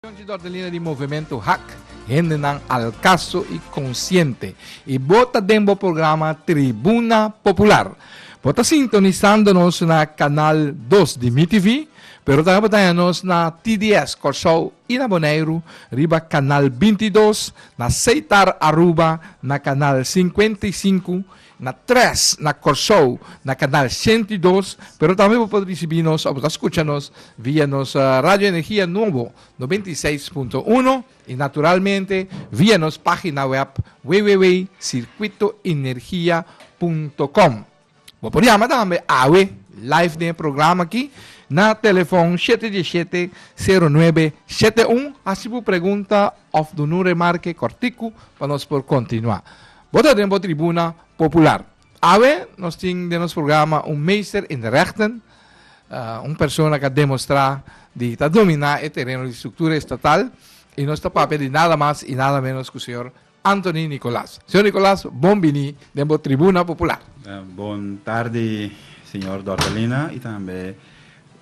Chonchi Dordelina di Movementu Hak, hendenan alkaso i konsiente, i bo ta den bo programa Tribuna Popular. Bo ta sintonisando nos na kanal dos di MiTV, pero tambe bo ta haña nos na TDS Kòrsou i na Boneiru riba kanal binti i dos, na Seitar Aruba na kanal sinkuenta i sinku Na tres, na Kòrsou, na kanal sento i dos, pero tambe bo por risibí nos òf bo ta skucha nos via nos Radio Energia Nobo noventa i seis punto uno i naturalmente via nos página wèb www.circuitoenergia punto com. Bo por yama tambe awe live den e programa akí na telefòn shete die shete sero nuebe shete un hasi bo pregunta òf duna un remarke kòrtiku pa nos por kontinuá. Bo ta den bo tribuna popular. Awe nos tin den nos programa un meester in de rechten, un persona cu a demostra di ta domina e tereno di structura estatal y nos ta papia di nada mas y nada menos cu señor Anthony Nicolas. Señor Nicolas, bon bini den bo tribuna popular. Bon tardi señor Dortalina y tambe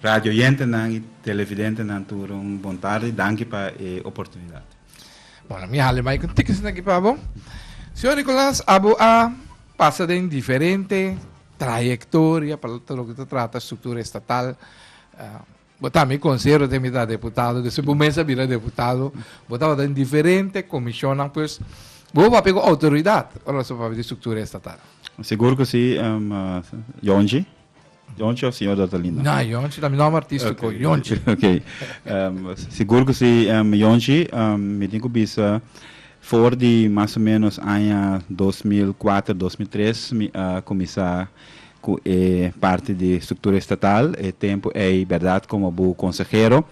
radio oyentenan y televidentenan tur un bon tardi. Danki pa e oportunidad. Bueno, mi hale bai cu tickets na ki pa bo. Señor Nicolas, abo a pasa den diferente trayectoria pa lo que te trata estructura estatal. Uh, bo también consejero de mitad deputado, que se bo mesa bira deputado, bo trabata en diferente comisionan, pues, bo va pego autoridad, ora so pa de estructura estatal. Seguro que sí, um, uh, Jonji. Yonche of Señor Datalina? Na, Yonche ta mi nom artistico, Yonche. Ok. Um, sigur ku si, um, Yonchi, um, mi tin ku bisa for di mas o menos aña 2004, 2003 mi a kuminsá ku e parti di struktura estatal. E tempu ei, berdad, komo bu konsehero.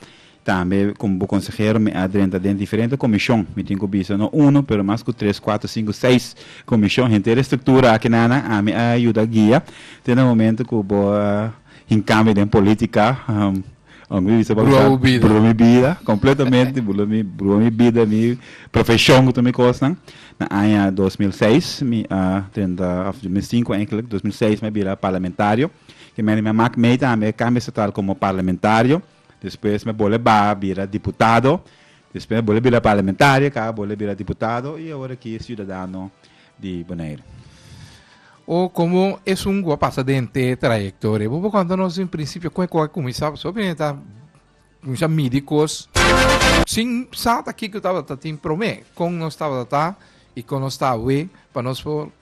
Tambe komo bo konsehero mi a drenta den diferente komishon, mi tin ku bisa no uno pero mas ku tres, kuater, sinku, seis komishon. Henter e struktura aki nan ami a yuda guia te na momento ku bo a hinkami den politika, unda mi bisa bautizá Bruha mi bida, kompletamente Bruha mi bida, mi profeshon ku tur mi kosnan. Na aña dos mil seis mi a drenta òf dos mil sinku enkele, dos mil seis mi a bira parlamentario, ke mene mi a mak mei tambe kambio estatal komo parlamentario. Despues me bole ba bira diputado. Despues me bole bira parlamentario ka bole bira diputado y awor aki ciudadano di Bonaire. O como esun cu a pasa den te trayecto re? Bo por conta nos den principio con eco a cuminsa pasobra primero ta cuminsa midi cos sin sa ta kico tabata tin prome, con nos tabata ta y con nos ta awe pa nos por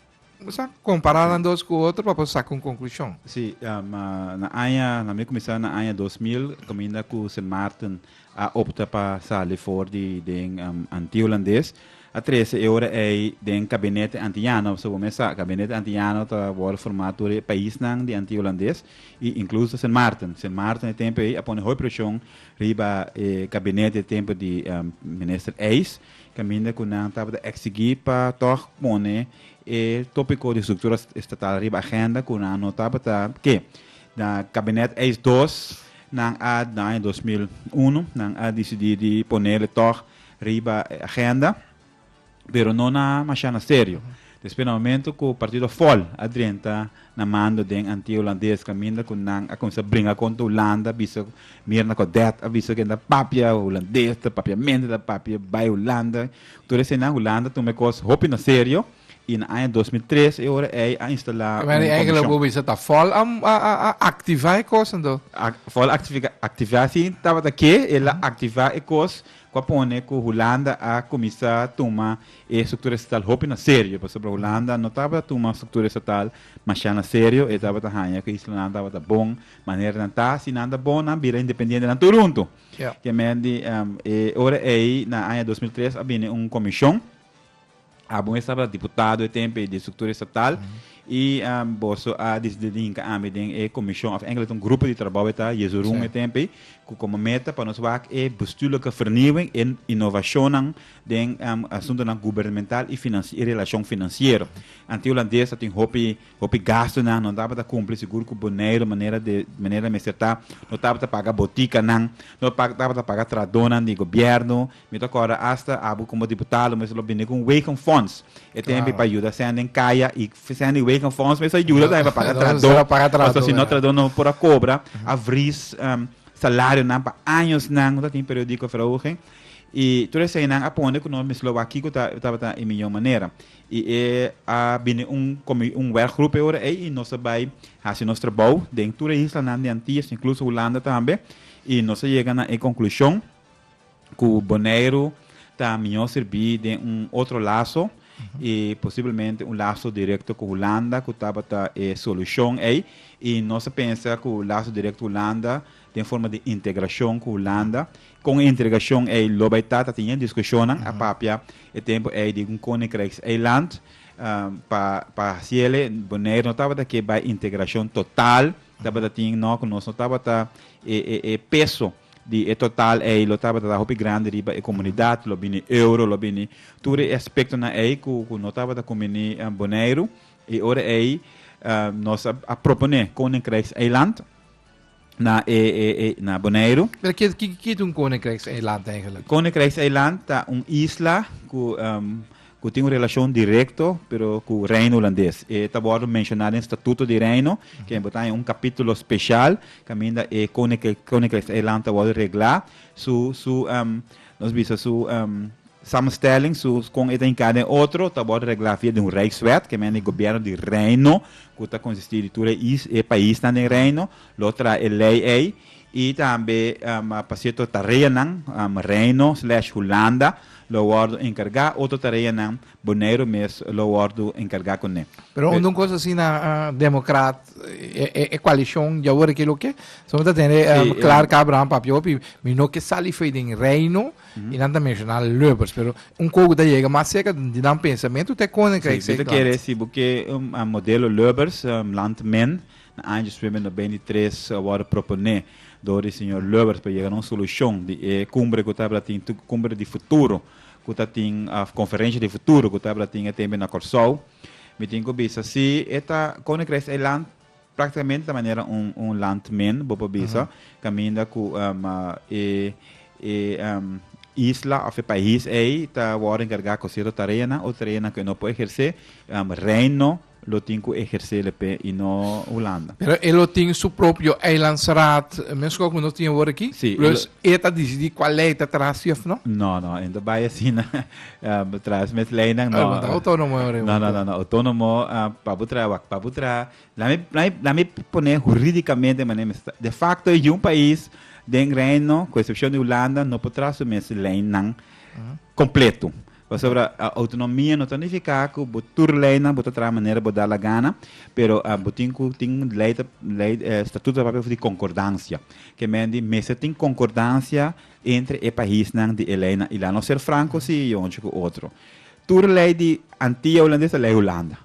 Bo sa kompará nan dos ku otro pa bo saka un konklushon. Sí, na aña, na mi kuminsá na aña dos mil, kaminda ku Sint Maarten a opta pa sali for di den Anti Hulandes, a trese e ora ei den Kabinete Antiyano. So bo mes sa, Kabinete Antiyano ta wòrdu formá tur e paisnan di Anti Hulandes i inkluso ta Sint Maarten. Sint Maarten e tempu ei a pone hopi preshon riba e kabinete e tempu di Minister Eyss, caminda cu nan tabata exigí pa tog pone e tópico di structura estatal riba agenda cu nan no tabata ke. Na cabinet eis dos, nan a, den aña dos mil i uno, nan a dicidí di ponel e tog riba e agenda, pero no na mashana serio. Despues na momento cu partido vol a drenta na mando den antiga Hulandes caminda cu nan a cuminsa bringa contra Hulanda bisa mira na Codet a bisa que ta papia Hulandes ta papia mente ta papia bay Hulanda tur esenan Hulanda tuma e cos hopi na serio y na aña dos mil tres e ora ey a instala un comishon. Pero ey lo bo bisa ta vol a a activa e cos anto? Vol a activa si tabata que el a activa e cos cu a pone cu Hulanda a cuminsa tuma E struktura estatal hopi na serio, pasobra Hulanda no tabata tuma struktura estatal mashá na serio, e tabata haña ku islanan tabata bon manera nan ta, si nan ta bon nan bira independiente nan tur huntu. Ke men di e ora ei na aña dos mil tres a bini un komishon, abo mes tabata diputado e tempo ei di struktura estatal, i boso a disidi di hinka ami den e komishon òf engeland ta un grupo di trabou e ta Jesurun e tempo ei ku komo meta pa nos wak e bestuurlijke vernieuwing, e inovashonnan den asuntunan gubernemental i relashon finansiero. Anti Hulandes a tin hopi hopi gastunan, no tabata kumpli sigur ku Boneiru manera de manera mester ta, no tabata paga botikanan, no tabata paga tradonan di gobièrnu, mi ta kòrda asta abo komo diputá lo mester lo bini ku un weken fonds e tempi pa yuda sèn den kaya i sèn di weken fonds mester a yuda tambe pa paga trado pasobra si no trado no por a kobra a vris salarionan pa añosnan no ta tin periodiko verhoging. I tur eseinan a pone ku nos mes lo wak kiko tabata e mihó manera. I e a bini un komi, un wèrkgrup e ora ei i nos a bai hasi nos trabou den tur e islanan di Antillas, inkluso Hulanda tambe. I nos a yega na e konklushon ku Boneiru ta mihó sirbi den un otro laso, i posiblemente un laso direkto ku Hulanda ku tabata e solushon ei. I nos a pensa ku laso direkto Hulanda den forma di integrashon ku Hulanda. Kon e integrashon ei lo bai ta, ta tin e diskushonnan a papia e tempu ei di un koninkrijkseiland, pa pa hasi ele Boneiro no tabata ke bai integrashon total, tabata tin no ku nos no tabata e e e peso di e total ei lo tabata ta hopi grandi riba e komunidat, lo bini euro, lo bini tur e aspektonan ei ku ku no tabata kumbini Boneiro, i ora ei nos a a propone koninkrijkseiland. na e, e, e, na Boneiru. Pero kit, kit, kit un koninkrijkseiland eigenlijk? Koninkrijkseiland ta un isla ku um, ku tin un relashon direkto pero ku Reino Hulandes. E ta wòrdu menshoná den Statuto di Reino, ke bo ta en un kapítulo spesial kaminda e koninkrijk koninkrijkseiland ta wòrdu reglá. Su su um, nos bisa su um, Samenstelling su kon e ta hinká den otro ta bort reglá via di un Rijkswet, ke mende e gobièrnu di Reino, ku ta konsistí di tur e paisnan den Reino, lo traha e lei ei, i tambe pa sierto tareanan, Reino slèsh Hulanda lo wòrdu enkargá, otro tareanan Boneiru mes lo wòrdu enkargá kuné. Pero unda un kos asina demokrat, e koalishon djawoor aki loke? Pasobra mi ta tende klar Abraham Papihopi, mi no ke sali fo'i den Reino, y nan ta menciona Lubbers pero un coco ta yega mas cerca di nan pensamiento te konen krijg si bita kere si bo ke un modelo Lubbers um land men na año dos mil veinte y tres a worde propone door di señor Lubbers pa yega na un solucion di e cumbre cu tabata tin cumbre di futuro cu ta tin of conferencia di futuro cu tabata tin e tempo na Corsou mi tin cu bisa si e ta koninkrij eiland Práktikamente ta manera un un landmin, bo por bisa, kaminda ku e e isla òf e pais ei ta wòrdu enkargá ku sierto tareanan, otro tareanan ku e no por ehersé, Reino lo tin ku ehersé lepé i no Hulanda. Pero e lo tin su propio eilandsraad, meskos ku no tin awor aki? Si, e lo. Pues e ta disidí kual lei ta tras'i òf no? No, no, e no ta bai asina. um, tra mes leinan no. Ay, uh, autónomo ahora. No, no, no, no, autónomo uh, pabutra wak pabutra. Lami lami lami poner jurídicamente mané de facto é um país den reino, com exceção de Holanda, no potrá su mes leinan uh-huh. completo. Pasobra a autonomia no tonifica ku bo tur leinan bo tra manera bo da la gana, pero uh, bo tin ku tin lei lei eh, statuto papel di concordancia. Que men di mesa tin concordancia Entre e paisnan di e lei na Ilan lo ser franco si y ocho cu otro. Tur lei di Antia Holandes ta lei Hulanda.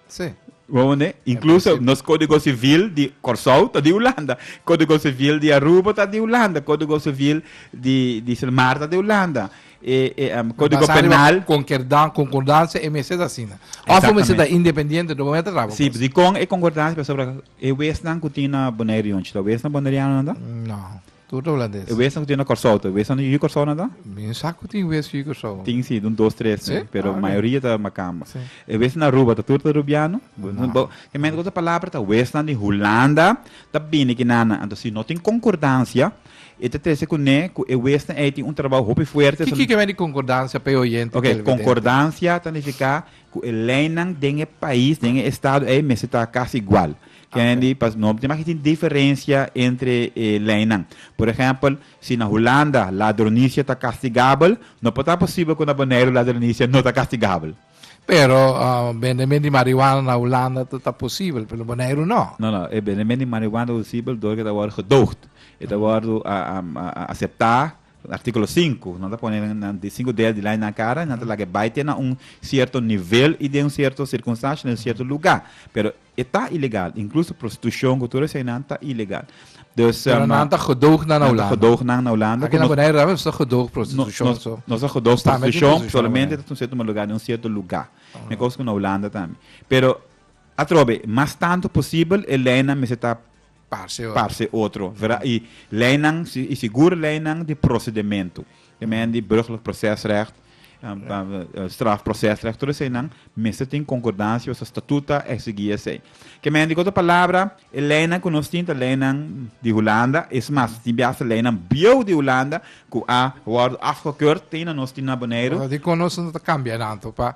Sí. Bo mende? Incluso nos codigo civil di Corsou ta di Hulanda. Codigo civil di Aruba ta di Hulanda. Codigo civil di di Silmar ta di Hulanda. E e em codigo Basa riba penal. concordan- concordancia e mester ta asina. Of e mester Exactamente. ta independiente no bo mester traba Sí, cos. di con e concordancia pasobra e wesnan cu tin na Bonaire y ocho ta wesnan Bonaireanonan ta? No. Tur ta habla des. E wes nan ku tin na Kòrsou ta? E wes nan di Ui Kòrsou nan ta? Bin sa ku tin wes Ui Kòrsou. Tin si, dun dos tres mi, pero e mayoria ta Makamba. E wes nan na Aruba ta tur ta Rubiano? Bo ke mente ku ta palabra ta wes nan di Hulanda ta bini kinan nan. Anto si no tin konkordansia e ta trese kuné ku e wes nan ei tin un trabou hopi fuerte. Kiko ke bai di konkordansia pa e oyente i televidente? Ok, konkordansia ta nifiká ku e leinan den e pais, den e estado ei mester ta kasi igual. Candy, pa no tin maki tin diferensia entre e leinan. Por ehèmpel, si na Hulanda ladronisia ta kastigabel, no por ta posibel ku na Boneiru ladronisia no ta kastigabel. Pero bendemen di marihuana na Hulanda ta ta posibel, pero na Boneiru no. No, no. E bendemen di marihuana ta posibel dor ku e ta wòrdu gedoogd. E ta wòrdu aseptá, artíkulo sinku. Nan ta pone nan sinku dedo di lei na kara i nan ta laga e bai te na un sierto nivel i den un sierto sirkunstansha, den un sierto lugá. Pero E ta ilegal, incluso prostitucion cu tur esainan ta ilegal. Dus, Pero ma, nan ta gedoog nan a nan ta Holanda. gedoog nan na Holanda. Aki cu nan nos, Bonaire Ramos ta gedoog no, prostitution nos, so. nos a gedoog Sta met die prostitucion prostitution solamente Bonaire. tot un cierto lugar, den un cierto lugar. Me cos cu na Holanda tambe. Pero, atrobe, mas tanto posibel e leynan mester ta parse otro, verda? I leinan, i si gur leinan di prosedementu, e men di burgerlijk procesrecht, strafprocesrecht, tur eseinan mester tin konkordansia wes statuta e sigui esei. Ke men di, ku otro palabra, e leinan ku nos tin ta leinan di Hulanda, es mas ta tin bia hasta leinan bieu di Hulanda ku a wòrdu afgekurt te na nos tin na Boneiru. Dikon nos no ta kambia tantu pa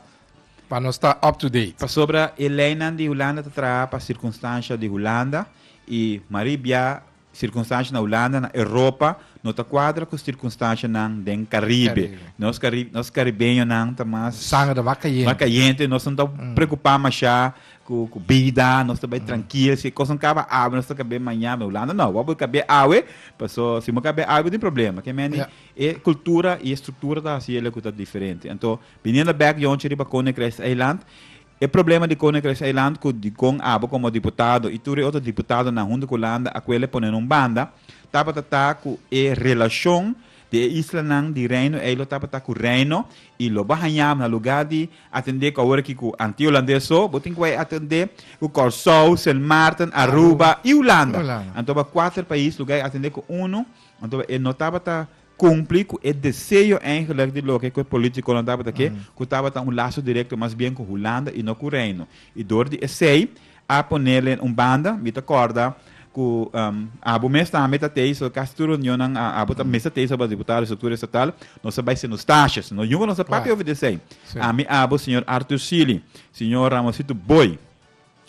pa nos ta up to date. Pasobra e leinan di Hulanda ta traha pa sirkunstansha di Hulanda i Marie bia sirkunstansha na Hulanda na Europa no ta kuadra ku sirkunstanshanan den Karibe. Nos Karibe nos karibeñonan ta mas Sanger mas kayente mas kayente nos no ta preokupá mashá ku ku bida nos ta bai trankil si e kosnan kaba awe nos ta kab'é maña me Hulanda no bo por kab'é awe paso si bo kab'é awe bo tin problema ke mende e kultura i e struktura ta hasiel ku ta diferente anto Biniendo bek yonchi riba Koninkrijkseiland, e problema di Koninkrijkseiland ku di kon abo komo diputado i tur e otro diputadonan huntu ku Landa Akwele pone na un banda, tabata ta ku e relashon di e islanan di Reino Eiló tabata ku Reino i lo bo haña na lugá di atendé ku awor aki ku anti Holandés so bo tin ku bai atendé ku Kòrsou, Sint Maarten, Aruba i Hulanda. Anto bai kuater pais lugá i atendé ku unu, anto e no tabata. cumpli cu e deseo eigenlijk di loke cu e politiconan tabata ke, cu tabata un laso directo mas bien cu Hulanda y no cu Reino. Y door di esey a ponelen un banda, mi ta corda cu abo mes tambe ta tey, so casi tur reunionnan a abo ta mester tey so bas diputado, estructura estatal, nos ta bay seno stashes, nos yunga nos ta papia over di esey. Ami abo, señor Arthur Sealy, señor Ramosito Booi,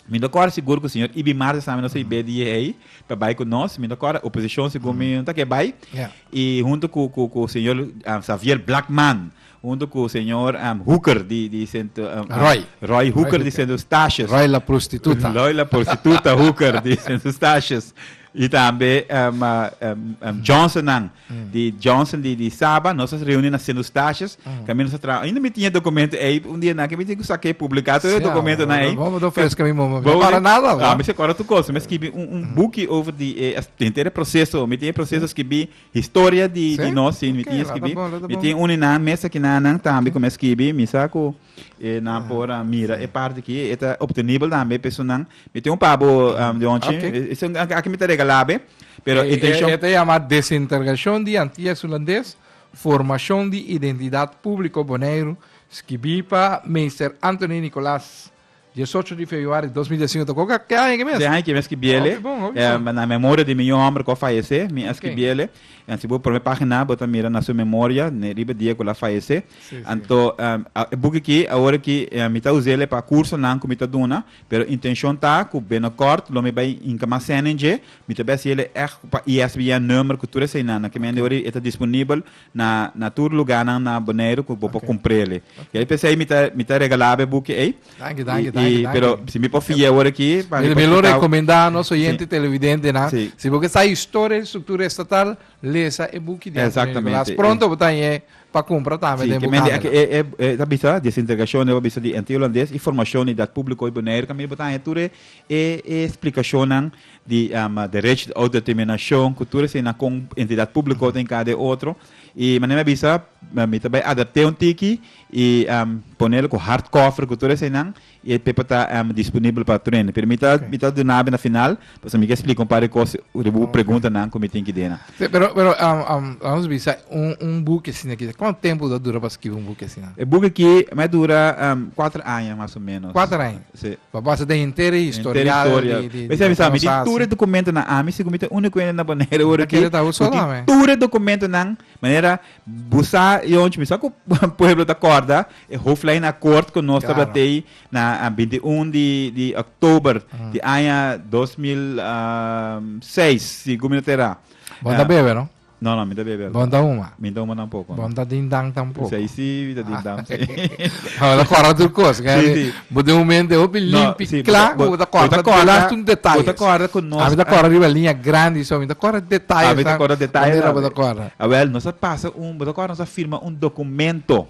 Mi ta kòrda sigur ku señor Ibi Marce Sami nos ta ib'é di e ei pa bai ku nos. Mi ta kòrda oposishon segun mi no ta ke bai. I huntu ku ku ku señor Xavier Blakman, huntu ku señor Hooker di di sentro Roy Roy Hooker di sentro Eustatius. Roy la prostituta. Roy la prostituta Hooker di sentro Eustatius i tambe Johnson nan. di Johnson di di Saba nos a reuni na Senu Stasjes kami nos a traha ainda mi tin e dokumento ei un dia naki mi tin ku saka e publika tur e dokumentonan ei Bo no freska mi momen mi akorda nada bo mi si akorda tur kos mi a skibi un buki over di e henter e proseso mi tin e proseso a skibi historia di nos si mi tin a skibi mi tin uni nan mes aki nan tambe ku mi a skibi mi sa ku E nan por a mira e parti ki e ta obtenibel tambe pe esun nan. Mi tin un pabo um, de onchi, Ok. e- esun aki aki mi ta regala be, pero Eh, intenshon. eh, eh, te llama Desintergashon di Antillas Hulandes, Formashon di Identidat Públiko Boneiru, skibí pa Meester Anthony Nicolaas Diesocho di febuari di dos mil diesinco ta koka te aña aki mes? Te aña aki mes ki biele. Hopi bon, hopi bon. Na memoria di mi yu homber ku a fayesé, mi a skibiele. Ken? Si bo prome pagina bo ta mira na su memoria ne riba dia ku el a fayesé. Si, si. Anto e buki aki awor aki mi ta us'e pa kursonan ku mi ta duna, pero intenshon ta ku binokòrt lo mi bai hinka mas sènen dje, mi ta bai hasiel e ègt pa ISBN number ku tur eseinan. Na kimendiori e ta disponibel na na tur lugánan na Boneiru ku bo por kumpr'é li. I ai p'esei mi ta mi ta regalá bo e buki ei. Danki, danki, danki, danki. I, i, pero si mi por fia awor aki pa mi por splikau. Mi lo rekomendá nos oyente televidentenan, si bo ke sa historia di struktura estatal, lesa e buki di Antonio Nicolas. Pronto bo ta ha'ñ'é pa kumpra tambe den bukhandelnan. Si, ke mende aki e ta bisa Desentregashon deba bisa di NT. Holandes i Formashon di Idat Públiko di Boneiru, tambe bo ta haña tur e splikashonnan. di derech di ouderterminashon ku tur esina kon entidat públiko ta enkarga di otro i manera mi a bisa mi ta bai adapt'é un tiki i ponel ku hard koffer ku tur eseinan i e pepa ta disponibel pa tur hende pero mi ta mi ta duna abe na final pasobra mi ke splika un par di kos riba bu preguntanan ku mi tin ki duna. Te pero pero la nos bisa un un buki asina ki kuantu tempu lo dura pa skibi un buki asina? E buki aki mi a dura kuater aña mas o menos. Kuater aña. Sí. Pa basa den henter e historial di Henter historial. di Mester avisa mi, di tur e dokumentonan, ami segun mi ta úniko hende na Boneiru ora aki ku tin tur e dokumentonan, manera bo sa i ocho mi sa ku pueblo ta kòrda e hoflijn akòrt ku nos tabata tei na binti un di di òktober di aña dos mil seis, si ku mi no ta erá. Bon ta bebe no? No no mi ta bebe Bon ta huma. Mi ta huma tampoco. Bon ta ding dang tampoco. P'esei si mi ta ding dang p'esei. Bo ta corda tur cos. Si si. Bo den momento e hopi limpi cla cu bo ta corda tur asta un detaye. Bo ta corda cu nos. A mi ta corda riba linea grandi so mi ta corda detaye tambe. A mi ta corda detaye tambe. Manera bo ta corda. A wel nos a pasa un bo ta corda nos a firma un documento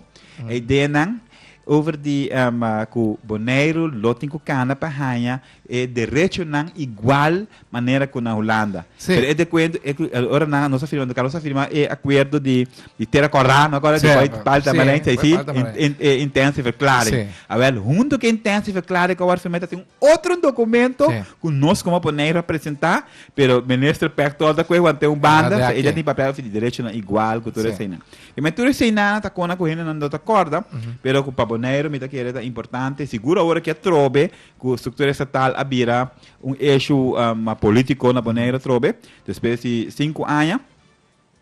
e ideanan over di cu Boneiru lo tin cu cana pa haya E derechonan igual manera ku na Hulanda. Sí. Pero e dokuento, e, ora nan, nos a firma, nos a firma e akuerdo di, di Tera Kòrá, no kòrda, di Sèp, Palta, sí, Tamarind, ei sí, Palta, in, Tamarind. in, e intentie verklaring. Sí. Awèl, huntu ku e intentie verklaring ku a wòrdu firmá, ta tin un otro dokumento Sí. ku nos komo Bonei representá, pero Minister Peck tòg ta kue wan te un Ahora banda, de so e aki. dja tin papel di derechonan igual ku tur Sí. eseinan. I men tur eseinan ta kona ku hendenan no ta kòrda, pero ku pa Boneiru mi ta kere ta importante, sigur awor a ke atrobe, Cu structura estatal a bira un eshu mas politico na Boneiru atrobe, despues di sinku aña,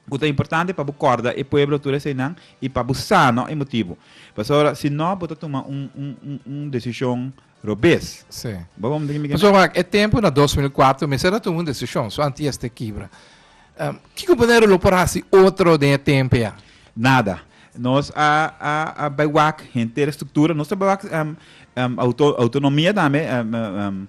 cu ta importante pa bo corda e pueblo tur eseinan y pa bo sa no e motibu. Pasobra si no bo ta tuma un decision robes. Bo bo mi ta gimi kende. Pasobra e tempo na dos mil kuater mester a tuma un decision, so anti este kibra. Kiko bo dero lo por hasi otro den e tempe a? Nada. Nos a a a bai wak henter struktura, nos ta bai wak em em auto autonomia tambe em em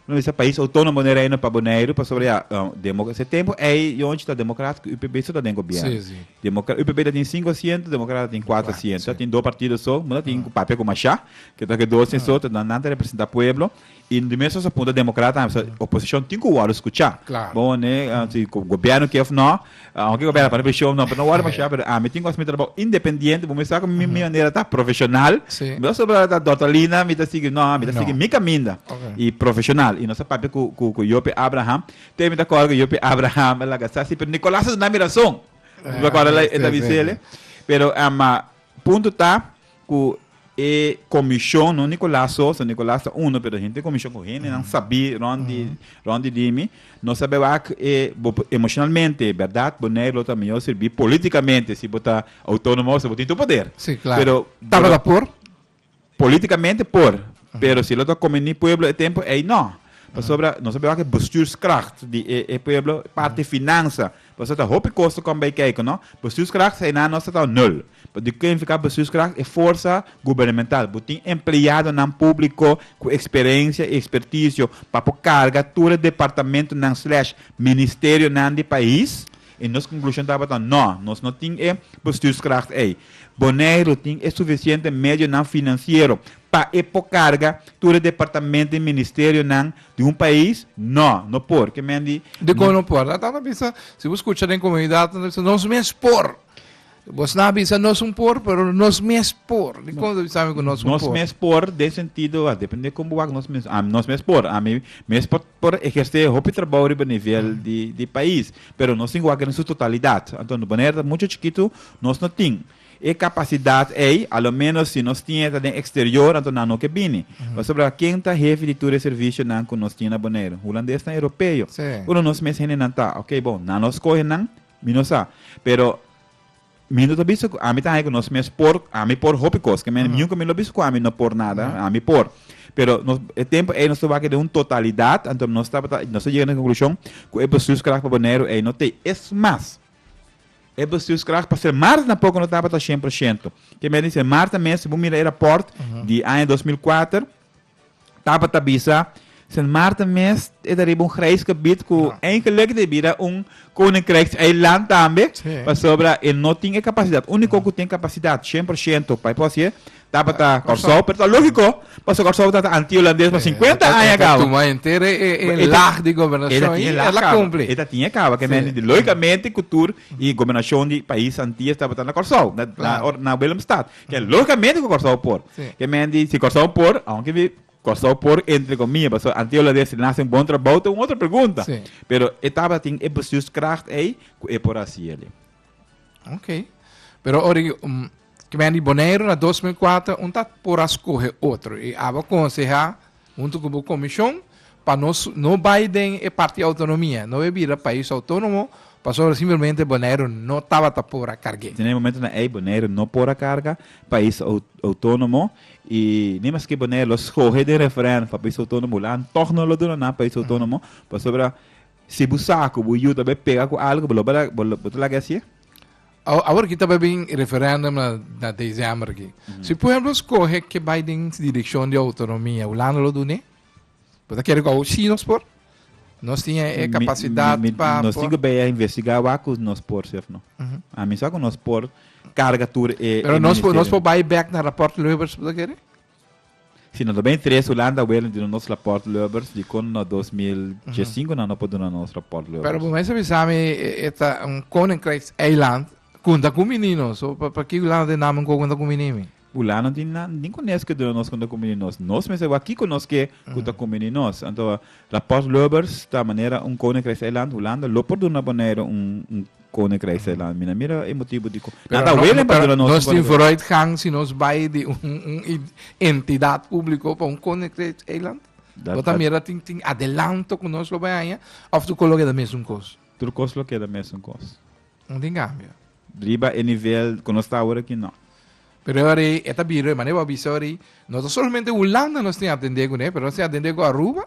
no bisa pais autonomo den Reino pa Boneiru pasobra ya demo se tempo ei yonchi ta Democrat ku UPB su ta den gobierno. Sí, sí. Democra UPB ta tin sinku asiento, Democrat ta tin kuater Kuater, asiento. sí. Ta tin do partido so, no ta tin ku papia ku masha, ke ta ke dos tin so, ta nan nan ta representa pueblo. Y di mes nos a punta democrata tambe sa oposicion tin cu worde scucha. Claro. Bo mane si gobierno kier of no, aunke e gobierno a pone presion no, pero no worde masha, pero ami tin cos mi trabao independiente, bo mi sa cu mi manera ta profesional, Sí. mi no so por ta doctor Lina, mi ta sigui, no, mi ta sigui No. mi caminda Ok. y profesional. Y nos a papia cu, cu, cu Joppie Abraham, te mi ta acorda cu Joppie Abraham a laga sa si, pero Nicolas a duna mi razon. Mi ta acorda la, e ta Sí, sí, bisele, sí. pero ama, Punto ta cu e comision, no Nicolas so, so Nicolas ta uno, pero henter comision cu hendenan sabi rond di, rond di Dimi, no sabi wak e, bo por- emocionalmente, berdad, bo nei lo ta mihor sirbi politicamente si bo ta autonomo, si bo tin tur poder. Sí, claro. Pero, Tabata por? Políticamente por, pero si lo ta conveni pueblo e tempo ey no. Pasobra nos a bay wak e bestuurskracht di e e pueblo, parti finansa, pasobra ta hopi cos ta com bay kijk no. Bestuurskracht eynan nos ta tao nul. Bo tin kuen fica bestuurskracht e forsa gubernamental. Bo tin empleadonan publico cu experencia y experticio pa por carga tur e departamentonan slash ministerionan di pais. I nos konklushon tabata nò, nos no tin e bestuurskracht ei. Boneiru tin e sufisiente medionan finansiero pa e por karga tur e departamento i ministerionan di un pais? Nò, no por. Ke men di? Dikon no por? Nan ta na bisa, si bo skucha den komunidatnan ta bisa, nos mes por! Vos na bisa nos un por, pero nos mes por. Di kon ta sabe ku nos un por? Nos mes por den sentido, a depende kon bo wak nos mes. Ami nos mes por, ami mes por por ehersé e hopi trabou riba nivel di di pais, pero nos tin ku wak den su totalidat. Anto nos bonaire ta mucho chikitu, nos no tin e kapasidat ei, a lo menos si nos tin e ta den eksterior, anto nan no ke bini. Pasobra ken ta hefi di tur e servishonan ku nos tin na bonaire? Hulandes nan, europeo. Pero nos mes hendenan ta, ok, bon, nan lo skohe nan, Mi no sa. Pero mi no ta bisa ku ami ta haña ku nos mes por, ami por hopi kos. Ke men nunka mi lo bisa ku ami no por nada, ami por. Pero nos, e tempu ei nos ta wak den un totalidat, anto nos tabata, nos ta yega na e konklushon ku e bestuurskracht pa Boneiru ei no tei. Es mas, e bestuurskracht pa ser Mars tampoco no tabata shen por shento. Ke men a di, ser Mars ta mes, si bo mira e rapòrt di aña dos mil kuater, Tapa ta bisa, Sint Maarten mes e ta riba un grijs gebied cu eigenlijk ta bira un koninkrijkseiland tambe, pasobra e no tin e capacidad. Unico cu tin capacidad cien por ciento pa e por haci'e tabata Corsou, pero ta logico pasobra Corsou tabata anti-Holandes pa cincuenta aña caba. E ta tuma henter e laag di gobernacion y e la cumpli. E ta tin e caba, cu mester di logicamente cu tur y gobernacion di pais Antillas tabata na Corsou, na Willemstad. Ke logicamente ku Kòrsou por. Ke men di si Kòrsou por, aunke di Kòrsou por entre komia, paso anto yo lo di si nan hasi un bon trabou ta un otro pregunta. Pero e tabata tin e bestuurskracht ei ku e por hasi eli. Ok. Pero ora ke ke men di Boneiru na dos mil kuater un ta por a skohe otro. I aba konsehá. Huntu ku bo komishon pa nos no bai den e parti outonomia, no e bira pais outonomo pasobra simplemente Boneiru no tabata por a karg'é. Den e momento na ei Boneiru no por a karga pais outonomo i ni maske Boneiru lo skohe den referendum pa pais outonomo hulan tog no lo duna nan pais outonomo pasobra si bu sa ku bu yuta bo e pega ku algu bo lo bo ta laga e hasié? Awor aki ta bai bin referendum na december aki. Si por ehemplo scohe ke bai den direccion di autonomia, Hulanda lo dune? Bo ta kere cu awor si nos por? Nos tin e capacidad pa por? Nos tin cu bai a investiga awor cu nos por si of no. Ami sa cu nos por carga tur e ministerio. Pero nos por bai back na rapport Lubbers, bo ta kere? Si no ta bay interes Hulanda weel no duna nos rapport Lubbers di con no dos mil diescinco nan no por duna nos rapport Lubbers. Pero bo mester bisa mi e ta un koninkrijks eiland ku ta kumini no. So pa pa ki Hulanda tin namen ku ta kumini mi? Hulanda no tin na ningún nesk ku duna nos ku ta kumini nos. Nos mester wak kiko nos ke ku ta kumini nos. Anto rapport Lubbers ta manera un koninkrijks eiland Hulanda lo por duna Boneiru un Koninkrijk se landa. Mi na mira e motibu dikon nan ta welen pa duna nos un koninkrijk. Pero nos tin vooruitgang si nos bai di un entidat públiko pa un koninkrijk eiland. Bo ta mira tin adelanto ku nos lo bai haña òf tur kos lo keda mesun kos? Tur kos lo keda mesun kos. No tin kambio. Riba e nivel ku nos ta awor aki, nò. Pero e ora ei e ta bira, e manera bo a bisa ora ei, no ta solamente Hulanda nos tin atendé kuné, pero nos tin atendé ku Aruba.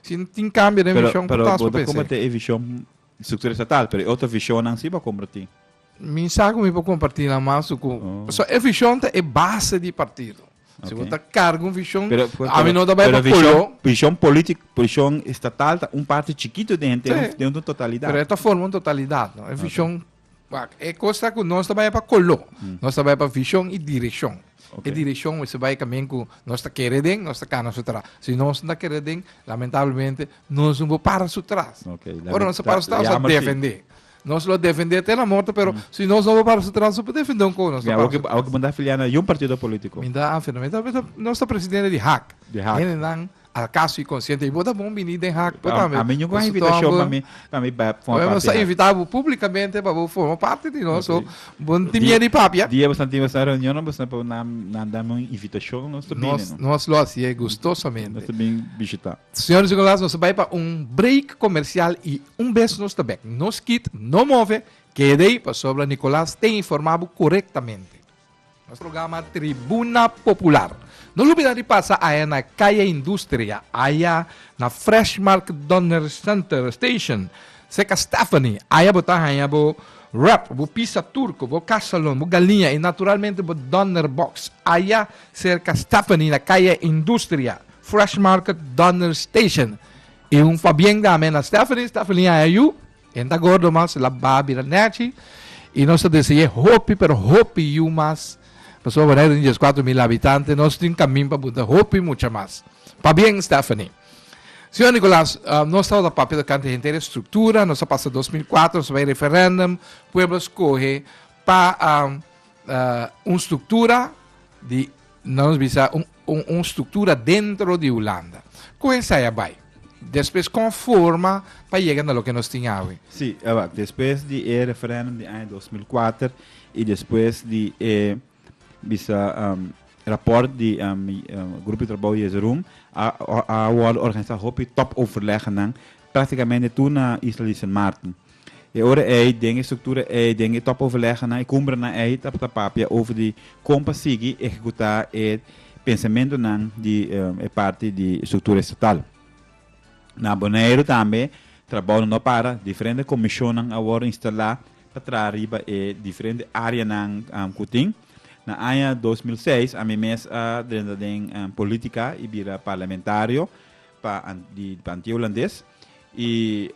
Si no tin cambio den vision cu ta so p'esey. Pero bo ta comparti e vision structura estatal, pero e otro visionnan si bo a comparti? Mi sa cu mi por comparti la mas cu, pasobra e vision ta e base di partido. Si bo ta carga un vision, ami no ta bay pa colo. Pero vision politico, vision estatal ta un parti chikito den un totalidad. Pero e ta forma un totalidad, no? E vision. Wak, e kosa ku nos ta bai pa koló, nos ta bai pa vishon i direkshon. E direkshon mester bai kamen ku nos ta kere den, nos ta kana su tras. Si nos no ta kere den, lamentablemente nos no por para su tras. Ora nos a para su tras, nos a defendé. Nos lo defendé te na morto, pero si nos no por para su tras, nos no por defendé un kos. Awor ku bo ta afiliá na yon partido polítiko? Mi ta afiliá, nos ta presidente di hak. Di hak. Alkaso i konsiente i bo ta bon bini den hak bo tambe. Ami nunka un invitashon pa mi pa mi forma parti di hak. Nos a invitá bo públikamente pa bo forma parti di nos so bo no tin mier di papia. Dia boso tin boso reunionnan boso no por nan dame un invitashon nos ta bini no. Nos lo hasié gustosamente. Nos ta bin bishitá. Señor i señoras nos a bai pa un break komersial i un bes nos ta bek no skit no move keda ei pasobra Nicolas te informá bo korektamente. Nos programa Tribuna Popular. No lubida di pasa aya na Calle Industria, aya na Freshmark Donner Center Station, cerca Stephanie. Aya bo ta haña bo wrap, bo pizza turco, bo casalon, bo galiña y naturalmente bo Donner box. Aya cerca Stephanie na Calle Industria, Freshmark Donner Station. Y un fabién dame na Stephanie, Stephanie aya yu. E ta gordo mas laba a bira nechi y nos ta deseye hopi pero hopi yu mas. Nos por wardá den dies kuater mil habitante, nos tin kamin pa bunta hopi mucha mas. Pabien Stephanie. Señor Nicolas, nos tabata papia di kante henter e struktura, nos a pasa dos mil kuater, nos a bai referendum, pueblo a skohe pa un struktura di, nan nos bisa un. Un un struktura dentro di Hulanda. Kon esai a bai? Despues kon forma pa yega na loke nos tin awe? Sí, a wak. Despues di e referendum di aña dos mil kuater i despues di e bisa raport di Grupo di Trabou Jezeroen a a wòrdu organisá hopi tòp overlegnan praktikamente tur na Isla di Sint Maarten. E ora ei, den e struktura ei, den e tòpoverlegnan, e kumbrenan ei, ta ta papia over di kon pa sigui ehekutá e pensamentunan di e parti di struktura estatal. Na Boneiru tambe trabounan no a para, diferente komishonnan a wòrdu instalá pa traha riba e diferente áreanan ku tin. Na aña dos mil seis, ami mes a drenta den politika i bira parlamentario. pa di Anti Holandes y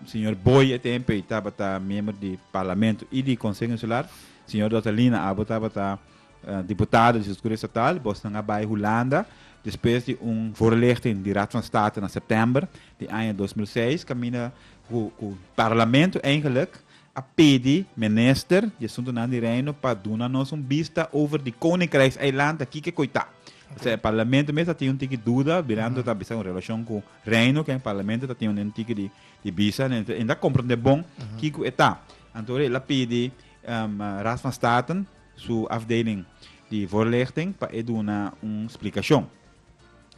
señor Boy e tempo ey tabata miembro di Parlamento y di Conseho Insular, señor Doctor Lina abo tabata diputado di Soscuro Estatal, bosnan a bay Hulanda despues di un voorlichting di Raad van State na september di aña dos mil seis caminda cu Parlamento eigenlijk a pidi Minister di Asuntunan di Reino pa duna nos un bista over di Koninkrijkseiland aki ke koe ta. P'esei e Parlamento mes ta tin un tiki duda mirando ta bisa con relacion cu Reino ke e Parlamento ta tin un tiki di di bisa ne e ta comprende bon kiko e ta. Anto el a pidi Raad van Staten su afdeling di voorlichting pa e duna un splicacion.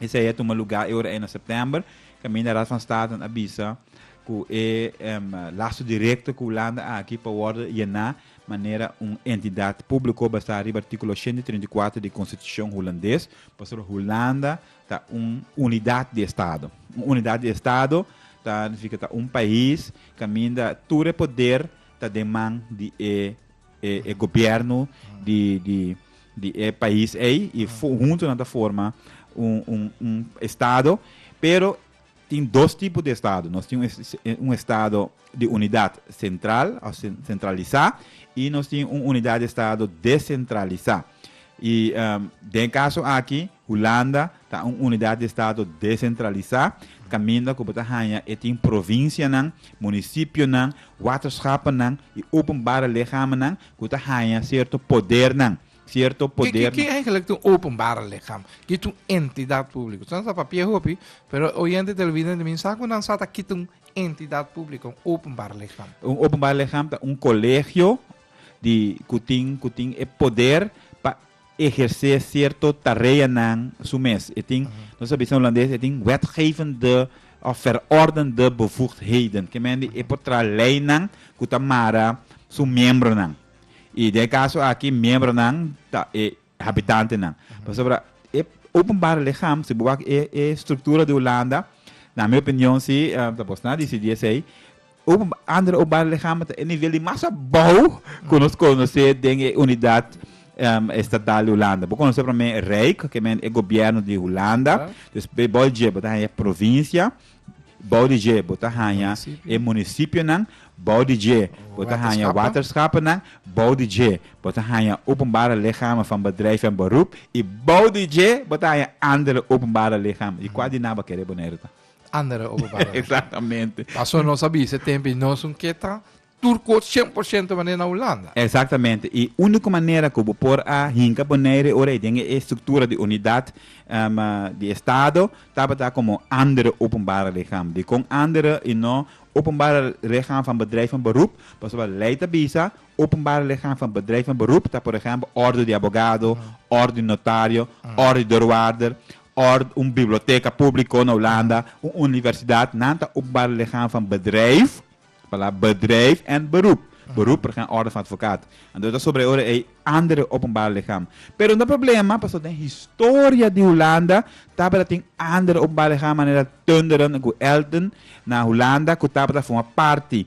Esei a tuma lugá e ora ei na sèptèmber, kaminda Raad van Staten a bisa ku e em, laso direkto ku Hulanda aki pa wòrdu yená manera un entidat públiko basá riba artíkulo 134 di Konstitushon Hulandes, pasobra Hulanda ta un unidat di estado. Un unidat di estado ta nifika ta un pais kaminda tur e poder ta den man di e e e gobierno di di di e pais ei i hunto nan ta forma un un un estado pero tin dos tipo di estado nos tin un estado di unidad central of centralisa i nos tin un unidad di estado decentralisa i den caso aki Hulanda ta un unidat di estado desentralisá, kaminda ku bo ta haña e tin provinsianan, munisipionan, waterschapennan i openbare lichaamnan ku ta haña sierto podernan, sierto poder. Ki eigenlik ta un openbare lichaam? Ki ta un entidat públiko? Esnan ta papia hopi, pero e oyente televidente min sa ku nan sa ta ki ta un entidat públiko, un openbare lichaam? Un openbare lichaam ta un kolegio di ku tin ku tin e poder pa ehersé sierto tareanan su mes. E tin, nos a bisa na Hulandes, e tin wetgevende of verordende bevoegdheden. Ke mendi e por traha leinan ku ta mara su miembronan. I den e kaso aki miembronan ta e habitantenan. Pasobra e openbare ligham, si bo wak e struktura di Hulanda, na mi opinion si, tabos nan a disidí esei, Oom Andre Obarlegama ta e nivel di mas abou ku nos konosé den e unidat estatal di Hulanda. Bo konosé promé e Rijk, ke men e gobièrnu di Hulanda. Dus bou dje bo ta haña e provinsia, bou di dje bo ta haña e munisipionan, bou di dje bo ta haña waterschapennan, bou di dje bo ta haña openbare lichamen van bedrijf en beroep i bou di dje bo ta haña andere openbare lichamen. I kua di nan bo kere bo na e ruta? andere oba barrio. Exactamente. Paso nos a bisa tempo y nos un keta turco 100% manera na Hulanda. Exactamente. Y unico manera cu bo por a hinca Bonaire ora den e estructura di unidad um, di estado tabata como andere openbare lichaam. Dicon andere y no openbare lichaam van bedrijf en beroep? Paso wat ley ta bisa, openbare lichaam van bedrijf en beroep ta por ejemplo orde di abogado, orde di notario, orde di deurwaarder, Ord, un biblioteka públiko na Hulanda, un universidat, nan ta ocupar lichaam van bedrijf, palabra bedrijf, en beroep, beroep por ehem orde van advocaat. Anto ta sobre ora ei andere openbare lichaam. Pero no ta problema pasobra den historia di Hulanda tabata tin andere openbare lichaam manera Tunderen ku Elten na Hulanda ku tabata forma parti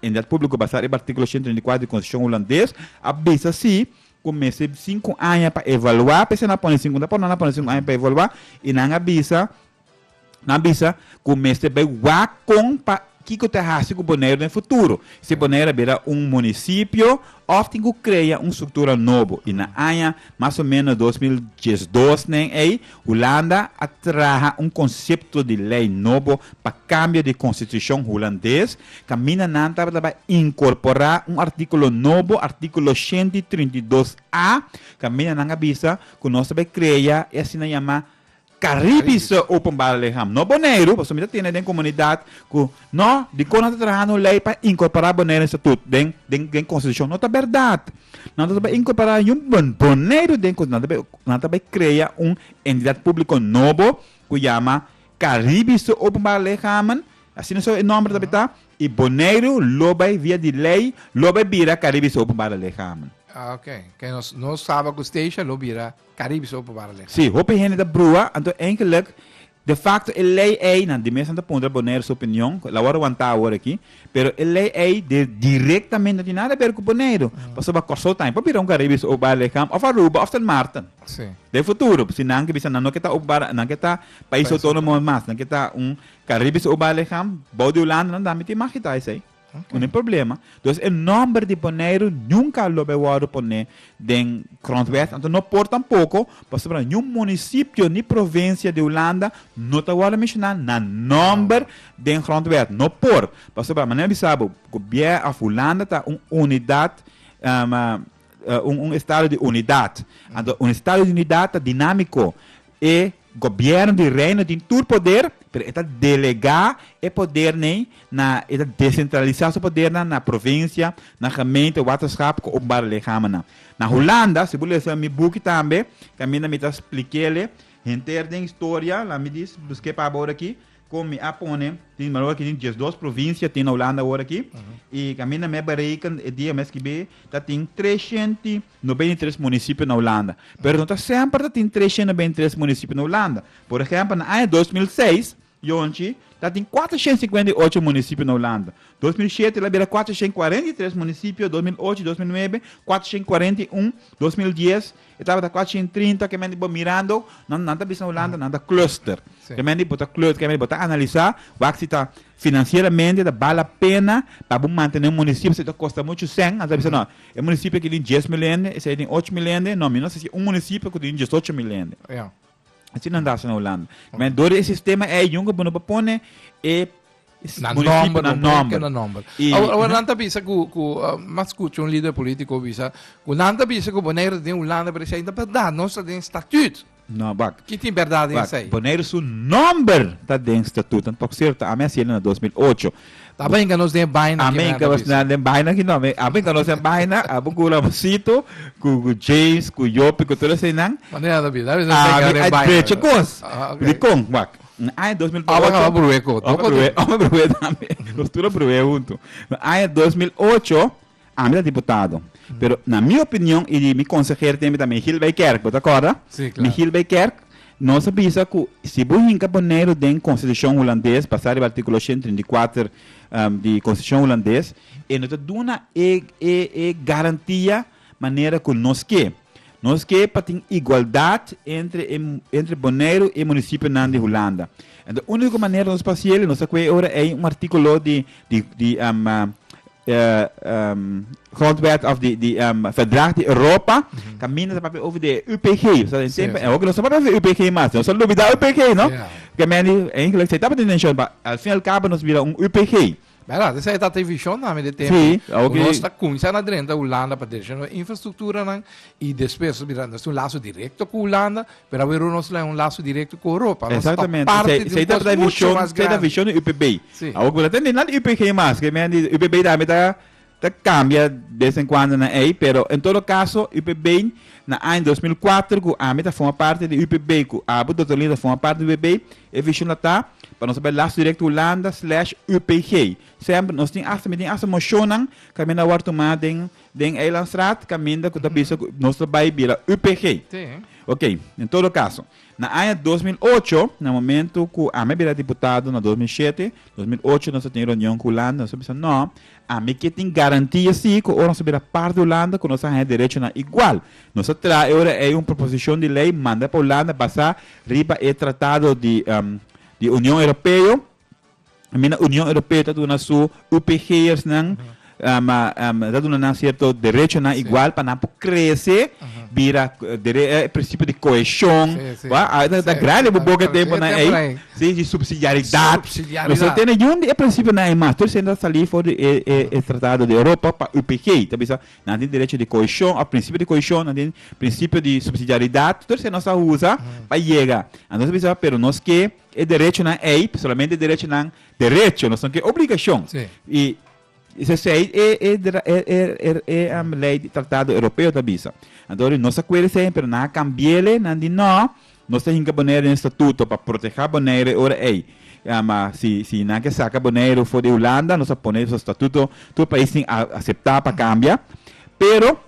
Entidat públiko basá riba artíkulo shenta treinta i kuater di Konstitushon hulandes a bisa sí ku mester sinku aña pa evaluá p'esei nan a pone sinku aña. Ta por nan a pone sinku aña pa evaluá i nan a bisa nan a bisa ku mester bai wak kon pa kiko ta hasi ku Boneiru den futuro. Si Boneiru a bira un munisipio Òf tin ku krea un struktura nobo, i na aña mas o ménos dos mil diesdos nen ei, Hulanda a traha un konsepto di lei nobo pa kambio di konstitushon hulandes, kaminda nan tabata inkorporá un artíkulo nobo, artíkulo shent i trinta i dos a, kaminda nan a bisa ku nos ta bai krea e asina yamá Caribiso Openbare Lichaam, no Boneiru, pasobra mi ta tene den comunidad cu no, dicor nan ta traha un ley pa incorpora Boneiru estatut den den constitucion, no ta berdad. Nan ta bay incorpora niun Boneiru den nan ta bay nan ta bay crea un entidad publico nobo cu yama Caribiso Openbare Lichamen, asina so e nomber tabata, y Boneiru lo bay via di ley lo bay bira Caribiso Openbare Lichamen. Ah, ok. Ke nos no saba cu Stacia lo bira. Caribische Openbare Lei. Sí, hopi hende ta brua, anto enkelijk de facto e lei ei, nan di mes nan ta puntra Bonaire su opinion, la wòrdu wantá awor aki, pero e lei ei di directamente no tin nada ber ku Boneiru, pasobra Kòrsou ta por bira un Caribische Openbare Lei kam òf Aruba òf Sint Maarten Sí. den futuro, si nan ke bisa nan no ke ta openbare, nan ke ta Pais Autónomo mas, nan ke ta un Caribische Openbare Lei kam bou di Hulanda, nan tambe tin mag kita esei. Unda e problema. Dus e nòmber di Boneiru nunka a loba e wòrdu pon'é den grondwet, anto no por tampoko, pasobra niun munisipio ni provinsia di Hulanda no ta wòrdu menshoná na nòmber den grondwet. No por, pasobra manera mi sa bo, gobiè òf Hulanda ta un unidat. un un estado di unidat. Anto un estado di unidat ta dinamiko. E gobièrnu di reino tin tur poder, pero e ta delegá e poder nei na e ta desentralisá su podernan na provinsia, na gemeente, waterschap ku openbare lichamannan. Na Hulanda, si bo lesa mi buki tambe, kaminda mi ta splik'é lei henter den historia, laat mi dis, busk'é pa bo ora aki, Kon mi a pone, tin balor ki tin diesdos provinsia tin na Hulanda awor aki, i kaminda mi a bereken e dia mi a skibi ta tin treshent i nobenta i tres munisipio na Hulanda. Pero no ta semper ta tin treshent i nobenta i tres munisipio na Hulanda. Por ehempel, na aña dos mil seis, yonchi, ta tin kuatershent i sikuenta i ocho munisipio na Hulanda. Dos mil shete la bira kuatershent i kuarenta i tres munisipio, dos mil ocho i dos mil nuebe, kuatershent i kuarenta i un, dos mil dies, E tabata kuachi en trinta ke men di bo mirando, nan nan ta bisa na Hulanda, nan ta cluster. Sí. Ke men di bo ta cluster, ke men di bo ta analisá wak si ta finansieramente ta bal a pena pa bo mantené un munisipio si ta kosta muchu sèn, nan ta bisa no, e munisipio aki tin dies mil hende, esei tin ocho mil hende, no mi no sa si un munisipio ku tin diesocho mil hende. Ja. Así nan dasa na Holanda. Men door e sistema ei jungo bono pa pone e Na nomber, na nomber. Na nomber. Awor, awor nan ta bisa ku, ku uh, mas kuchu un líder político bisa, ku nan ta bisa ku Bonaire den Holanda, pero sei verdad, no sa den statuut. No, bak. Ki tin verdad in sei? Bonaire su nomber ta den statuut, an tok cierto, a mes yelen na 2008. Ta benga nos den baina aki. Amen ka nos na den baina aki no. Amen ka nos den baina. Abo ku Ramosito, ku James, ku Yopi, ku tur esei nan. Manera ta bisa. Bisa benga den baina. A mi a drecha kos. Dikon, wak. Na aña dos mil ocho. Aba kaba bruwe ko. Aba bruwe. Aba bruwe tambe. Nos tur a bruwe huntu. Na aña dos mil ocho. Ami ta diputado, pero na mi opinion y di mi conseher teme ta Michiel Beykerk, bo ta corda? Sí, claro. Michiel Beykerk, nos a bisa cu si bo hinca ponelo den constitucion Hulandes, basa riba articulo ochenta y treinta y cuater di constitucion Hulandes, e no ta duna e e e garantia manera cu nos ke. Nos ke pa tin igualdad entre e entre Boneiru y e municipionan di Hulanda. Enton unico manera nos pa haciel, nos ta cu e ora ey un articulo di di di E grondwet of di Verdrag di Europa ta mina ta papia over di e UPG. So den tempo en hopi nos no papia over di e UPG mas. Nos a lubida UPG, no? Ke men di, e Engeles ei tabata den nashon, ma al fin al kabo nos bira un UPG. Bèrdad, esei e tabata e vishon nan den tempo. Si, a hopi. Ku nos ta kuminsá na drenta Hulanda pa derecha nos infrastruktura nan i despues nos bira, nos tin un laso direkto ku Hulanda. Pero awe Ronald Sly un laso directo cu Europa. Nos ta parte di un cos mucho mas grandi. Esei ta vision di UPB. Si. Awo cu ta tende na di UPG mas, cu men di UPB tambe ta cambia bes en cuando nan ey, pero en todo caso UPB na aña dos mil kuater cu ami ta forma parte di UPB, cu abo Doctor Lina ta forma parte di UPB, e vision la ta pa nos bay laso directo Hulanda slash UPG. Semper nos tin asta, mi tin asta mocionnan cu men a wor tuma den Den Eilandstraat caminda cu ta bisa cu nos ta bay bira UPG. Sí. Ok, en todo caso, na aña dos mil ocho, na momento cu ami a bira diputado na dos mil shete, dos mil ocho nos a tin reunion cu Hulanda, nos a bisa no, ami ke tin garantia si cu ora nos a bira parti di Hulanda cu nos a haña derechonan igual. Nos a traha e ora ei un proposicion di ley manda pa Hulanda basa riba e tratado di di Union Europeo, Mi na Union Europeo ta duna su UPGersnan um um ta duna nan cierto derechonan Sí. igual pa nan por crece Aha. bira dere- eh, e principio di cohesión Sí, sí. wak a ta Sí, grandi sí, bo boca tal- tempo tal- nan tal- ei tal- tal- sí di subsidiaridad Subsidiaridad. no so tene yun di e principionan ei mas tur esei ta sali for di e e e tratado di Europa pa UPG ta bisa nan tin derecho di cohesión of principio di cohesión nan tin principio di subsidiaridad tur esei nos a usa pa yega entonces bisa pero nos ke E derechonan ei solamente derechonan derecho, no son ke obligashon. Sí. I sesei e e e e e e um, lei di tratado europeo ta bisa. Anto di nos acuerdo sei, pero nan a cambiele nan di no, nos ta hinca Bonaire den estatuto pa proteha Bonaire ora ei. Um, uh, si si nan ke saca Bonaire for di Hulanda, nos a pone so estatuto, tur pais tin a acepta pa cambia, pero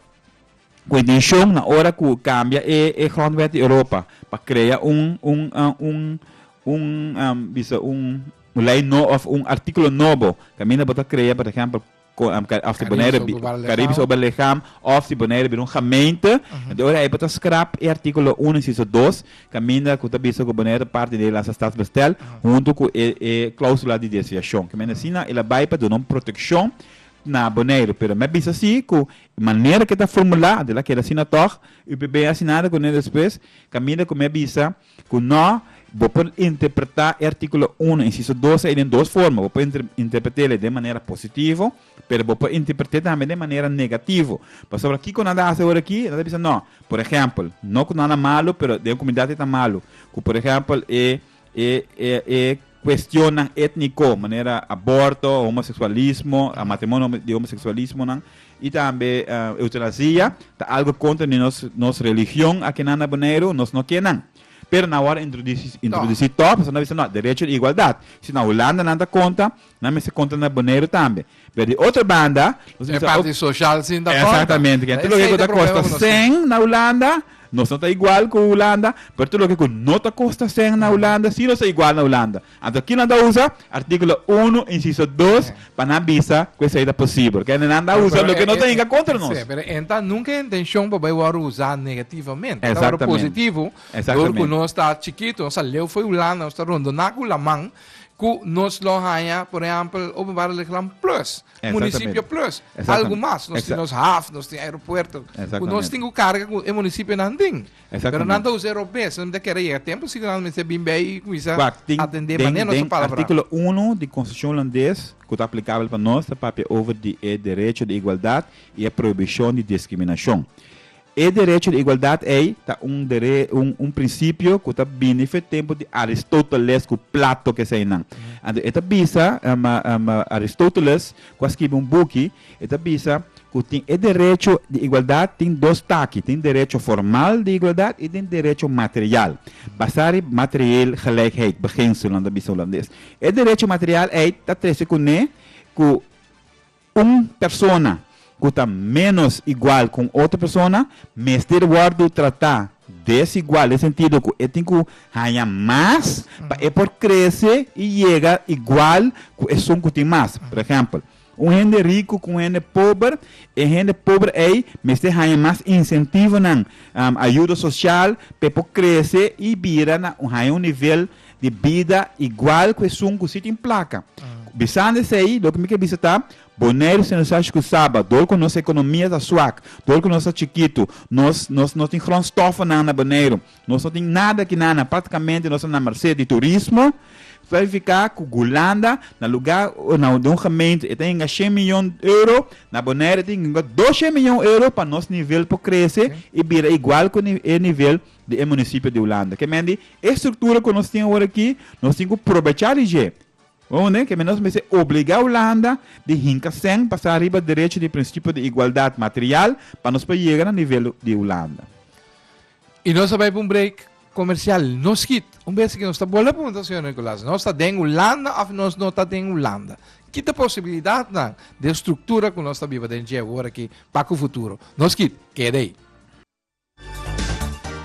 Cu e decision na ora cu cambia e e grondwet di Europa pa crea un un un un bisa un un ley no of un articulo nobo caminda bo ta crea por ehempel co of si Bonaire Caribisch ober lichaam of si Bonaire bira un gemeente ento ora ey ta scrap e articulo uno inciso dos caminda cu ta bisa cu Bonaire ta parti di Nederlandse Stadsbestel hunto cu e e clausula di desviacion caminda asina el a bay pa duna un proteccion na Bonaire pero me bisa si cu Manera ke ta formulá tel a keda asina tòg. U p'e bini asina ada ku ne despues, kaminda ku mi a bisa ku nò, bo por interpretá e artíkulo uno, insiso dos ei den dos forma. Bo por interpretéle den manera positivo, pero bo por interpret'é tambe den manera negativo. Pasobra kiko nan ta hasi ora aki? Nan ta bisa, nò, por ehèmpel, no ku nan a malu, pero den e komunidat ei ta malu. Ku por ehèmpel e. E e e cuestionnan etnico, manera aborto, homoseksualismo, matrimonio di homoseksualismonan y tambe eutanasia ta algo contra di nos nos religion aki nan na Boneiru, nos no ke nan. Pero nan awor a introduci introduci too, pasobra nan bisa no, derecho di igualdad. Si na Hulanda nan ta conta, Nan mester kontra na Boneiru tambe. Pero di otro banda, nos E mester parti ook. social sin ta konta. Exactamente. Kende Esei loke ku ta ta kosta problema ku nos tin. 100 na Hulanda, nos no ta igual ku Hulanda, pero tur loke ku no ta kosta 100 na Hulanda, si nos ta igual na Hulanda. Anto kinan ta usa artíkulo uno, insiso dos, Sí. pa nan bisa ku esei ta posibel. Kende nan ta Pero- usa pero loke e- no ta e- hinka e- kontra nos. Sí, pero e ta nunca e intenshon pa bai wòrdu usá negativamente. E ta wòrdu Exactamente. positivo, dor ku Exactamente. nos ta chikito, nos a leu fo'i Hulanda, nos ta rondoná ku laman, Cu nos lo haña, por ehempel, Openbare Leegland plus, Municipio plus, algo mas. Nos tin nos haf, nos tin aeropuerto, cu nos tin cu carga cu e municipionan tin. Pero nan ta usa e robes, esnan ta kere yega tempo si cu nan mester bin bay y cuminsa atende manera nos a palabra. Den articulo uno di Constitucion Hulandes, cu ta aplicabel pa nos, ta papia over di e derecho di igualdad y e prohibicion di discriminacion. E derecho di igualdad ei ta un dere un principio cu ta bini fen e tempo di Aristoteles cu Plato cu eseinan. Anto e ta bisa Aristoteles cu a scribi un buki e ta bisa cu tin e derecho di igualdad tin dos taki, tin derecho formal di igualdad y tin derecho material basa riba materieel gelijkheid beginsel nan ta bisa Holandes. E derecho material ei ta trece cune cu. Un persona ku ta ménos igual ku un otro persona mester wòrdu tratá desigual den sentido ku e tin ku haña mas pa e por krese i yega igual ku esun ku tin mas. Por ehèmpel, un hende riku ku un hende pober, e hende pober ei mester haña mas insentivonan, ayuda sosial pa e por krese i bira na haña un nivel di bida igual ku esun ku si tin plaka. Bisando esei, loke mi ke bisa ta, Boneiru si nos hashi ku Saba, dor ku nos ekonomia ta suak, dor ku nos ta chikitu, nos nos no tin grondstofnan na Boneiru, nos no tin nada akinan nan, praktikamente nos ta na mersé di turismo, ta signifika ku Gulanda na lugá na den un gemeente e ta yega shen miyon euro, na Boneiru e ta yega doshen miyon euro pa nos nivel por krese i bira igual ku e nivel di e munisipio di Hulanda. Ke mende e struktura ku nos tin ora aki, nos tin ku probecha di dje. Bo hunde? Ke mende nos mester obligá Hulanda di hinka sèn pa sa riba derecho di prinsipio di igualdat material pa nos por yega na nivel di Hulanda. I nos ta bai pa un break komersial. No skit! Un bes nos ta bolbe a pregunta, señor Nicolas, nos ta den Hulanda òf nos no ta den Hulanda? Ki ta posibilidatnan di e struktura ku nos ta biba den dje ora aki pa ku futuro? No skit! Keda ei.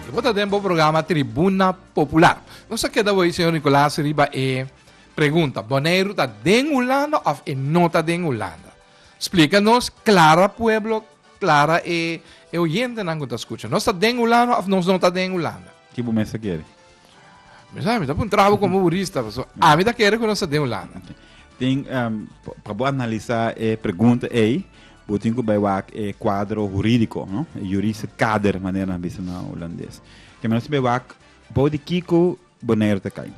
E bo ta den bo programa Tribuna Popular. Nos a keda bo ei, señor Nicolas, riba e pregunta, Boneiru ta den Hulanda of e no ta den Hulanda? Splica nos clara pueblo, clara e oyentenan cu ta scucha. Nos ta den Hulanda of nos no ta den Hulanda? Ki bo mester kere? Mi sa, mi ta pun trabo como burista, paso ami ta kere ku no sa den Hulanda. Tin, um, pa bo analisa e pregunta ei, bo tin ku bai wak e kuadro huridiko, no? E jurista kader, manera nan bisa na Hulandes. Ke menos bai wak, bou di kiko Boneiru ta kai.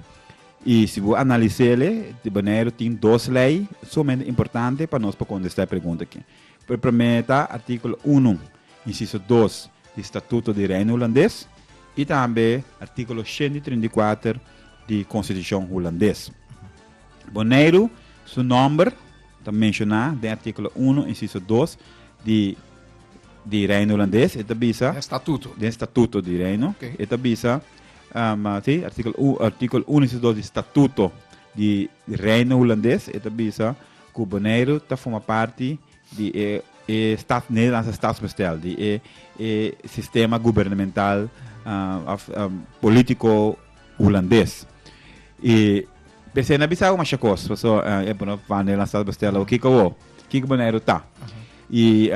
I si bo analisele, Boneiru tin dos lei sumamente importante pa nos pa kontestá e pregunta akí. E promé ta artíkulo unu, insiso dos, di Statuto di Reino Hulandes i tambe artíkulo shenti trinta i kuater di Konstitushon Hulandes. Boneiru su nòmber ta menshoná den artíkulo unu, insiso dos, di di Reino Hulandes. E ta bisa. Den Statuto. Den Statuto di Reino. Oké. E ta bisa, si, artíkulo u, artíkulo unu, insiso dos, di Statuto di Reino Hulandes. E ta bisa. Ku Boneiru ta forma parti di e e stats Nederlandse Statsbestel, di e e sistema gubernamental òf polítiko Hulandes. I p'esei na bisa bo masha kos, paso e pone op wande nan Statsbestel o kiko awor, kiko Boneiru ta. I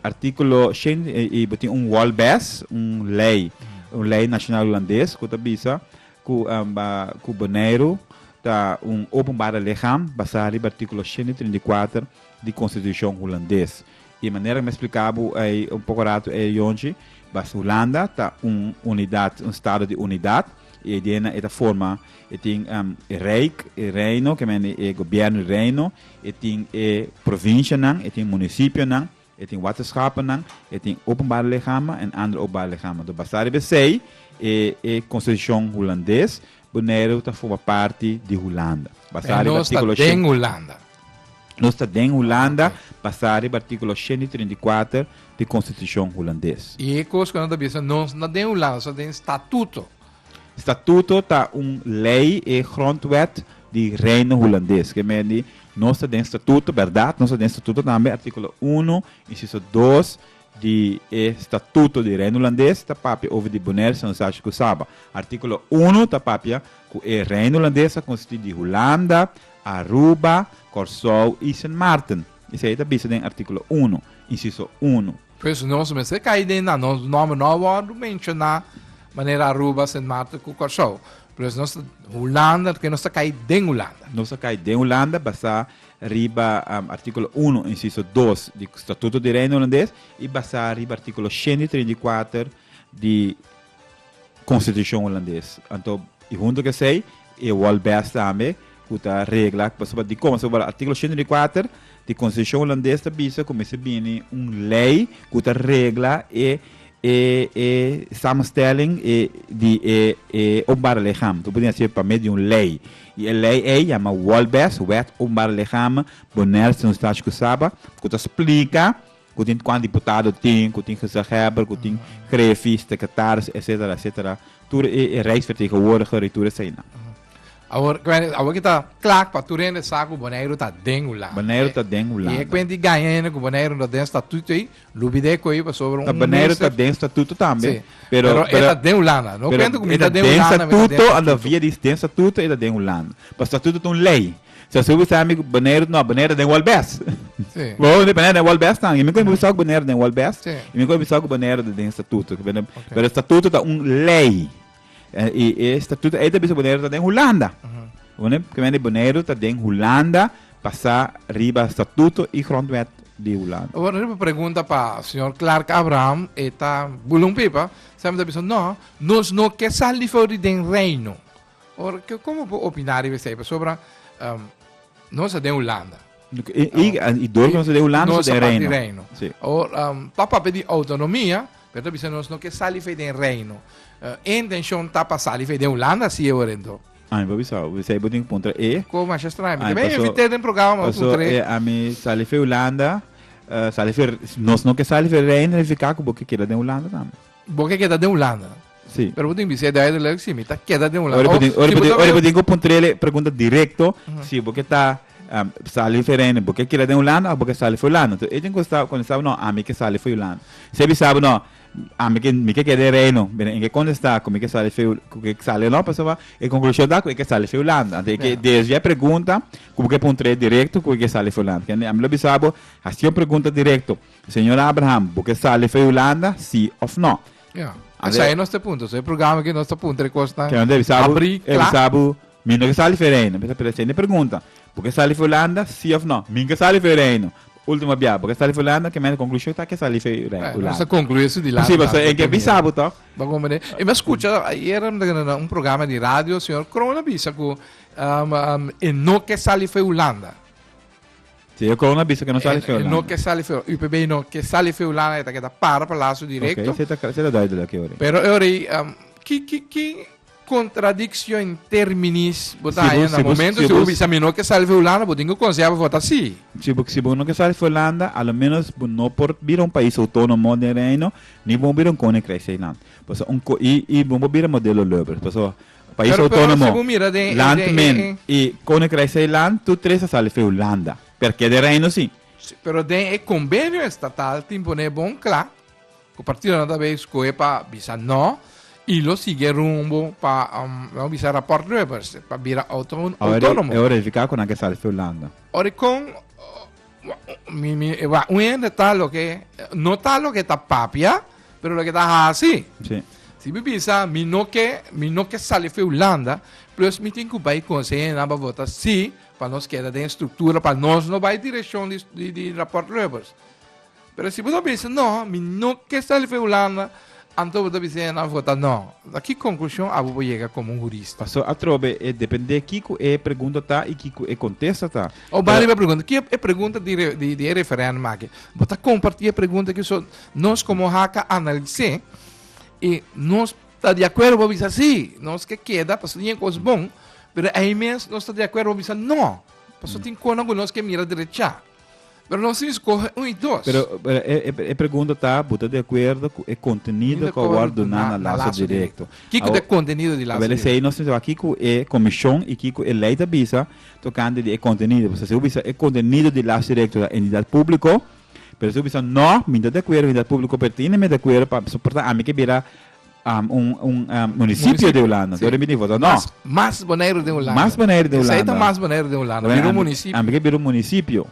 artíkulo shen i bo tin un wòlbes, un lei, un lei nashonal Hulandes ku ta bisa, Cu amba cu Boneiru ta un openbare lichaam basá riba artículo shente i trinta i kuater di Constitucion Hulandes. I manera cu mi a splica bo ei un poco rato ei ayonchi, bas Hulanda ta un unidad, un Estado di unidad, i eidenna e ta forma, e tin e Rijk, e Reino, ke men e Gobierno di Reino, e tin e provincianan, e tin municipionan, E tin waterschapennan, e tin openbare lichamen en andere openbare lichamen. Door basta riba esey, e e Constitucion Hulandes, Bonaire ta forma parti di Hulanda. Basta Pero riba nos ta articulo den shen, Hulanda. nos ta den Hulanda, Ok. basta riba articulo shen di treinta i kuater di Constitucion Hulandes. Y e cos cu no ta bisa, nos no ta den Hulanda, nos ta den statuto. Statuto ta un lei, e grondwet di Reino Hulandes. Ke men di nos ta den statuto, berdad, nos ta den statuto tambe. Artíkulo uno, insiso dos di e Statuto di Reino Hulandes ta papia over di Bonaire, San Eustátio ku Saba. Artíkulo uno ta papia ku e Reino Hulandes ta konsistí di Hulanda, Aruba, Kòrsou i Sint Maarten. Esei ta bisa den artíkulo uno, insiso uno. Pues nos mester kai den nan nos nomber no a wordo menciona manera Aruba, Sint Maarten cu Corsou. Pues nos ta Hulanda porque nos ta kai den Hulanda. Nos ta kai den Hulanda basa riba um, articulo uno, inciso dos di Statuto di Reino Hulandes y basa riba articulo shende i treint i kuater di Konstitushon Hulandes. Anto i huntu ku esei e Walbest tambe ku ta regla pasobra dikon? Pasobra artíkulo shentro di kuater di Konstitushon Hulandes ta bisa ku mester bini un lei ku ta regla e e e samenstelling di e e openbare lichamen. Bo por tin hasié pa medio di un lei. I e lei ei yama Walbest, Wet Openbare Lichamen, Bonaire Stadskosaba, ku ta splika Ku tin kuan diputado tin, ku tin gezaghebber, ku tin grefis, sekretaris, etsetera, etsetera. Tur e rijksvertegenwoordiger i tur eseinan. Awor, ku hende, awor ke ta kla pa tur hende sa ku Boneiru ta den Hulanda. Boneiru ta den Hulanda. I e kuent di gaña hende ku Boneiru no ta den statuto ei, lubi de e ku ei pasobra un minister. Ta Boneiru ta den statuto tambe. Si, pero e ta den Hulanda. No kuento ku mi ta den Hulanda, mi ta den statuto. Pero e ta den statuto, anda via di den statuto e ta den Hulanda. Pa statuto ta un lei. So su bisa mi bonaire no bonaire den wal best. Sí. Bo de bonaire den wal best tan. Y mi ko bisa ku bonaire den wal best. Sí. Y mi ko bisa ku bonaire de den statuto. Pero okay. statuto ta un ley. Eh, y e statuto e ta bisa bonaire ta den Holanda. Uh -huh. Bonaire, que vende bonaire ta den Holanda pasa riba statuto y grondwet di Holanda. Bueno, una pregunta para señor Clark Abraham, eta bulumpipa, se me dice, no, nos no que salir fuera del reino. Ora ke komo bo opiná riba esei pasobra nos ta den Hulanda. I dos nos ta den Hulanda nos ta den Reino. Ora pa papia di autonomia pero ta bisa nos no ke sali fei den Reino. E intenshon ta pa sali fei den Hulanda si e ora ento. Ami pa bisa esei bo tin ke puntra e. Ko masha straño mi ta ben invit'é den programa mi ta puntra e. Ami sali fei Hulanda sali fei nos no ke sali fei Reino signifiká ku bo ke keda den Hulanda tambe. Bo ke keda den Hulanda? Sí. Pero bo tin bisé duidelijk, sí, mi ta keda den Hulanda. Ora bo tin, ora bo tin, ora bo tin ku puntrele pregunta direkto, si bo ke ta um, sali Verene, bo ke keda den Hulanda of bo ke sali for Hulanda? Tu Edwin konstaba, konstaba, no, ami ke sali for Hulanda. Si e bisabo, no, ami ke, mi ke keda den Reino. Bene, en ke kontestá ku mi ke sali for, ku ke sali no, pasoba e konklushon ta ku e ke sali for Hulanda. Anto e ke, desde ya e pregunta ku bo ke puntrele direkto ku e ke sali for Hulanda. Kende, ami lo bisabo, hasi un pregunta direkto. Señor Abraham, bo ke sali for e Hulanda, sí òf nò? Ya. Esei nos ta punta. So e programa ke nos ta punta e kosnan Ke nos debe sa bo, abrí e debe kla. sa bo, mi no ke sali for e Reino. Mester presta atenshion na e pregunta. Bo ke sali for e Hulanda, sí òf nò? Mi ke sali for e Reino. Último bia, bo ke sali for e Hulanda, ke mester konklushon ta ke sali for e Rei- Eh, nos ta Hulanda. konkluí esu di lado. Posibel, so lado, en ke primero. bisa bo tòg. Bo kon mane. E mi a skucha ayera mi ta keda na un programa di radio, señor Kroon a bisa ku am, am, e no ke sali for e Hulanda. Si e kounan bisa ke no sali feo lana. No ke sali feo. UPB no ke sali feo lana e ta keda para palaso direkto. Okay, se ta se ta duidelijk e ori. Pero e ori um, ki ki ki contradicción in terminis bo ta haya na momento si bo bisa mi no ke sali feo lana, bo tin ku konsea pa vota si. Si bo si bo no ke sali feo lana, a lo menos bo no por bira un pais autónomo den reino, ni bo no bira un koninkrijk Zeeland. Paso un ko i i bo no por bira modelo Lubbers. Paso Pais Autonomo, Land men i Koninkrijk Zeiland tur tres a sali feu landa. Per ke de Reino si? Si, pero den e kombenio estatal tin por ne bon kla ku partidonan ta bei skohe pa bisa no i lo sigui e rumbo pa, la'mi bisa raport Lubbers, pa bira auto, autónomo. Awor e verifiká ku nan ke sali feu landa. Ora kon Mi, mi, e wa, un hende ta loke, no ta loke ta papia, pero loke ta hasi. Sí. Si mi bisa, mi no ke, mi no ke sali fi Hulanda, plus mi tin ku bai konse hende na ba vota sí, pa nos keda den struktura, pa nos no bai direkshon di, di, di raport Lubbers. Pero si bo ta bisa no, mi no ke sali for e Hulanda, anto bo ta bisa e nan vota no. Ta ki konklushon abo bo yega komo un hurista? Pastor atrobe e depende kiko e pregunta ta i kiko e kontesta ta. Abo bai riba e pregunta. Ki e pregunta di e referendum aki? Bo ta kompartí e pregunta aki so nos komo haka a analis'é i nos ta di akuerdo pa bisa sí. Nos ke keda paso tin e kos bon, pero ei mes nos ta di akuerdo pa bisa no. Paso tin kosnan ku nos ke mira derechá. Pero nos sin scoge un y dos. Pero, pero e, e, e pregunta ta, buta de acuerdo cu e contenido que awor duna na lazo directo. Kiko de contenido di lazo directo? Abele sei nos te aki cu e commission y kiko e ley ta bisa tocante di e contenido. Pues si bisa e contenido di lazo directo ta entidad publico, pero si bisa no, mi ta de acuerdo entidad publico, pero tin e mi de acuerdo pa, so porta ami ke bira Um, un, un um, municipio de Hulanda. Door bini foto. No. Mas, mas Bonaire de Hulanda. Mas Bonaire de Hulanda. Esa mas Bonaire de Hulanda. Biro municipio. Ambi biro municipio.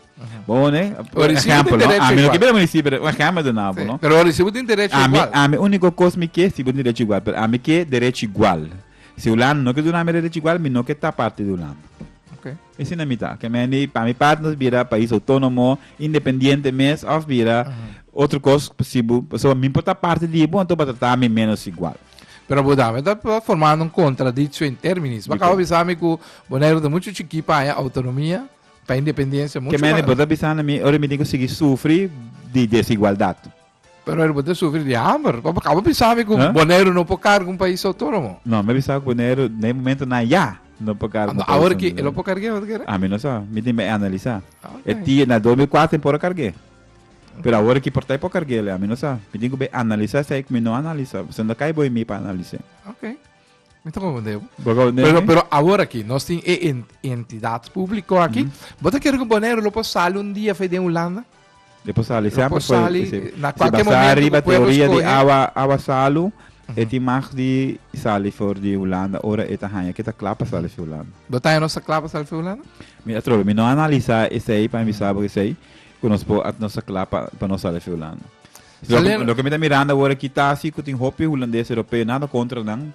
Bone, por ejemplo, no. Ami no biro municipio, un ejemplo de nabo, no. Pero recibo tin derecho igual. Ami único cosa mi que si derecho igual, pero ami que derecho igual. Si Hulanda no que duna mi derecho igual, mi no que ta parte de Hulanda. Okay. Mi sinta mi ta ke mendi pa mi part nos bira pais otonomo independiente mes of bira otro cos si bo so mi por ta parti di bo anto bo ta trata mi menos igual. Pero bo dame ta formando un contradictio in terminis. Bo acaba bisa mi cu Boneiru ta mucho chiki pa haña autonomia, pa independencia mucho mas. Ke mendi bo ta bisa na mi ora mi tin cu sigui sufri di desigualdad. Pero el bo ta sufri di hamber. Bo kaba pisabe ku Boneiru no por karga un pais outónomo? No, mi a pisabe ku Boneiru na e momento nan ya no por karga un pais outónomo. Awor ki el a por karg'é otro kere? Ami no sa. Mi tin mei analisá. E tia na dos mil kuater e por a karg'é. Pero awor ki por ta e por karg'é, ami no sa. Mi tin ku bai analisá esei ku mi no analisá. Pasobra no kai bo i mi pa analis'é. Mi ta confundeu. Bogou nene. Pero, pero ahora aquí, nos tin e en- entidad público aquí. Bota quiero que Bonaire lo puedo salir un día fe de Holanda. E por sali, Lo sempre por foi. sali, Se, na se cualquier basá momento riba u pueblo teoria di escoge. awa, awa salu, e tin mag di sali for di Hulanda, ora e ta haña ke ta kla pa sali for Hulanda. Bota no sa clave salir fe Holanda? Mi a trobe, mi no analisá esei pa mi bisa bo esei, ku nos po at nos a kla pa, pa nos sali for Hulanda. Alen- Loke mi ta mirando awor aki ta si ku tin hopi hulandes europeo, nada kontra nan,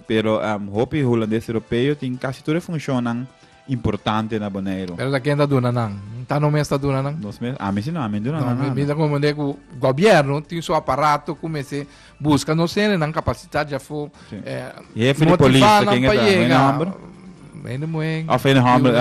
pero em, hopi hulandes europeo tin kasi tur e funshonnan importante na Boneiru. Pero ta ken ta duna nan. Ta no mes ta duna nan. Nos mes, ami si no, ami duna No, nan mi, mi nada. ta comprende cu gobierno tin su aparato cu mester busca nos hende nan capacidad ya fo Jefe di polis, de ken e ta? Hende homber? Hende muen. Of hende homber?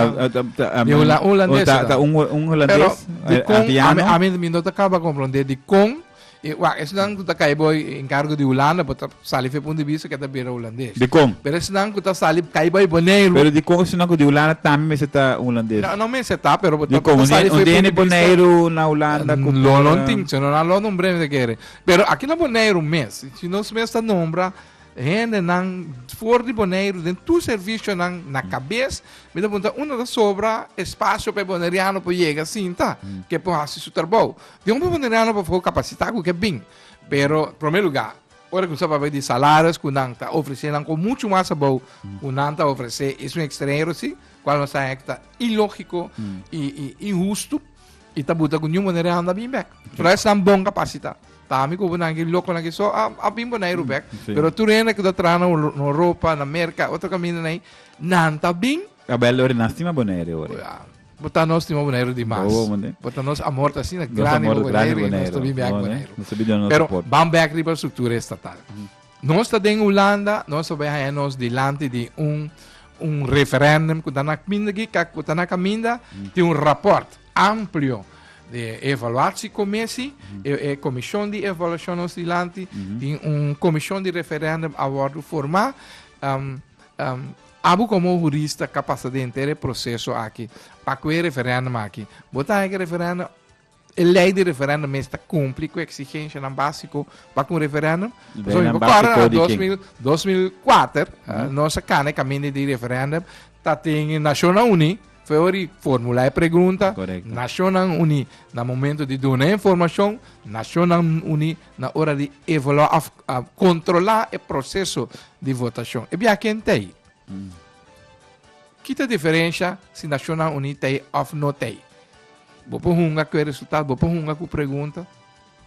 Di Holandes. Ta un Holandes? Pero, di kon, a mi no ta kaba komprondé di kon, wak, esnan ku ta kai bo en kargo di Hulanda, bo ta sali fe punto di bista ku e ta bira Holandes. Di kon? Pero esnan ku ta sali, kai bo ei Boneiru. Pero di kon esnan ku di Hulanda tambe mester ta Holandes? No mester ta, pero bo ta sali fe punto di bista. Di kon? Un hende Boneiru na Hulanda ku por. Lo no tin, sino nan lo numbr'é mester kere. Pero aki na Boneiru mes, si nos mes ta nombra hendenan for di Boneiru den tur servisionan na kabes, mi ta punta unda ta sobra espasio pa e boneriano por yega sinta, ke por hasi su trabou. Di hopi boneriano pafo kapasitá ku ke bin, pero promé lugá, ora ku sa papia di salarios ku nan ta ofresé nan kon muchu mas abou ku nan ta ofresé es un ekstranhero si, kual nos ta hek ta ilógiko i inhustu. I ta buta ku niun manera e handa bin bek. Pero esnan bon kapasitat. Ta ami ku nan ki lokonan ki so a, a bin Boneiru bek. Sí. Pero tur hende ku ta traha na Euro- na Europa, na Merka, otro kaminda na ei, nan ta bin. A bel ori nan stima Boneiru ori. Ya, bo ta nos stima Boneiru di mas. Bobo, mande. Bo ta nos amor ta asina Nos grandi amor pa grande Boneiru, i nos ta bin bek Boneiru. Boneiru. Nos ta bin duna nos Pero, soport. ban bek riba e struktura estatal. Nos ta den Hulanda, nos ta bai haña nos dilanti di un, un referendum ku ta na kminda kikak ku ta na kaminda, tin un raport amplio de evaluatie komesi, e, e komishon di evaluashon nos dilanti, tin un komishon di referendum a wòrdu formá. Um, um, abo komo hurista ka pasa den henter e proseso aki, pa ku e referendum aki. Bo ta haña ku e referendum E lei di referendum mes ta cumpli cu exigenshanan basiko pa cu un referendum. Zo mi por corre na 2004, nos a cana e caminda di referendum, ta tin Nacionnan Uni, fue ori formula e pregunta, Nacionnan Uni na momento di duna e informacion, Nacionnan Uni na ora di evalua of controla e proceso di votacion. E biaha ken ta ayi? Ki ta diferensha si Nashonnan Uní ta ei òf no ta ei? Bo por hunga ku e resultat, bo por hunga ku pregunta.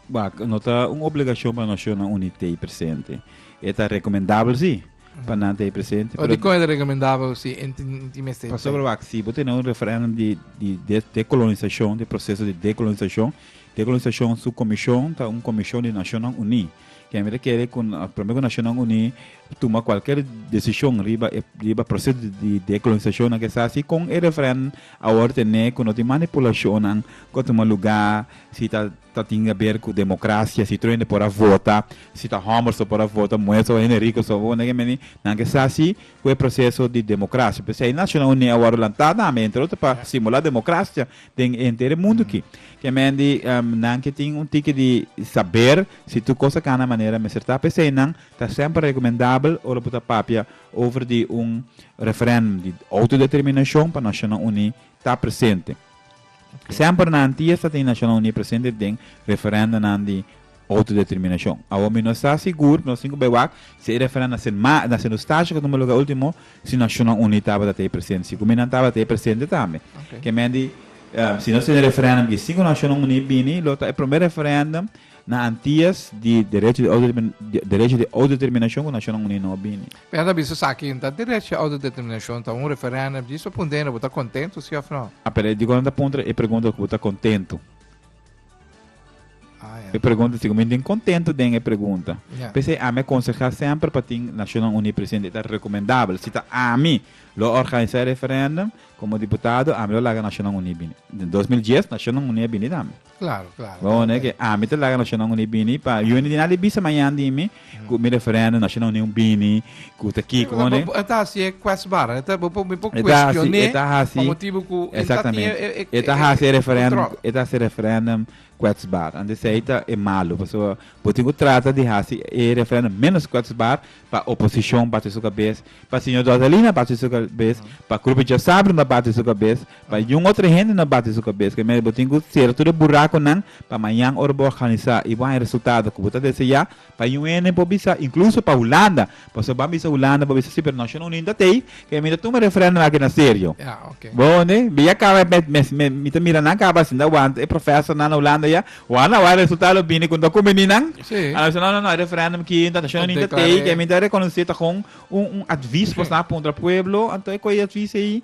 Wak, no ta un obligashon pa Nashonnan Uní ta ei presente. E ta rekomendabel si, pa nan ta ei presente, pero. Dikon e ta rekomendabel si e tin mester ta ei? Pasobra wak, si bo tene un referèndum di di dekolonisashon, di proseso di dekolonisashon, dekolonisashon su komishon ta un komishon di Nashonnan Uní. Kemi ta kere ku promé ku Nashonnan Uní tuma kualker desishon riba e riba proseso di dekolonisashon nan ku e sa si kon e referèndum a wòrdu ten'é ku no tin manipulashonnan ku a tuma lugá, si ta ta tin aber ku demokrasia, si truende por a vota, si ta hòmber so por a vota, muher so, hende riko so, bo nega meni nan ke sa si ku e proseso di demokrasia. P'esei Nashonnan Uní a wòrdu lantá tambe entre otro pa stimulá demokrasia den e entere mundu ki. Ke men di nan ke tin un tiki di saber si tur kos ta kana manera mester ta, p'esei nan ta semper rekomendabel ora bo ta papia over di un referendum di outodeterminashon pa Nashonnan Uní ta presente. Semper na antia ta tin Nashonnan Uní presente den referendonan di Autodeterminacion. Awo mi no sta sigur, nos tin ku bai wak, si e refera na se ma, na se nustashi ku tumba luga ultimo, si Nashonnan Uní tabata ta e presente, si ku mi nan tabata e presente tambe. Ke men di, si nos tin e referendum di sin ku Nashonnan Uní bini, lo ta e promé referendum na Antias di derecho di autodetermi, derecho di autodeterminacion ku Nashonnan Uní no a bini. Pena ta bisa esaki, ta derecho di autodeterminacion ta un referendum, djis pa puntra, bo ta kontentu si òf no? A pela e di kon nan ta puntra e pregunta ku bo ta kontentu? E pregunta si mi tin contento den e pregunta. Yeah. Pese a me aconseja sempre pa tin Naciones Unidas presente ta recomendable. Si ta a mi lo organiza e referendum como diputado, a mi lo laga Naciones Unidas bini. In 2010 Naciones Unidas bini dami. Claro, claro. Lo único que a mi te laga Naciones Unidas bini pa yo ni di nada bisa mañana di mi Cu mi referendum Nacional Union bini cu ta kiko bo ne? E ta hasi e kwestbaar, e ta bo por mi por kwestion'é pa motibu cu e ta tin e controle. E ta hasi e referendum, e ta hasi e referendum kwestbaar. Anto esei ta e malu pasobra bo tin cu trata di hasi e referendum menos kwestbaar pa oposicion bati su cabes, pa Señor Dortalina bati su cabes, pa Krupitje Sabringa bati su cabes, Pa yu un otro hende no bati su cabes que mira bo tin cu cera tur e buraconan pa mañan ora bo organisa y bo hay resultado cu bo ta desea pa yu un hende por bisa incluso pa Hulanda pasobra bo a bisa Hulanda bo a bisa si pero Naciones Unido ta tey que mi ta tuma referendum aki na serio bo hondi mi ya caba mi ta mira nan caba asina want e profesornan na Hulanda ya wak na wak e resultado bini con ta cumini nan a bisa no no no hay referendum aki enton Naciones Unido ta tey que mi ta reconoce ta con un un advies pasobra a puntra pueblo anto e coye advies eyi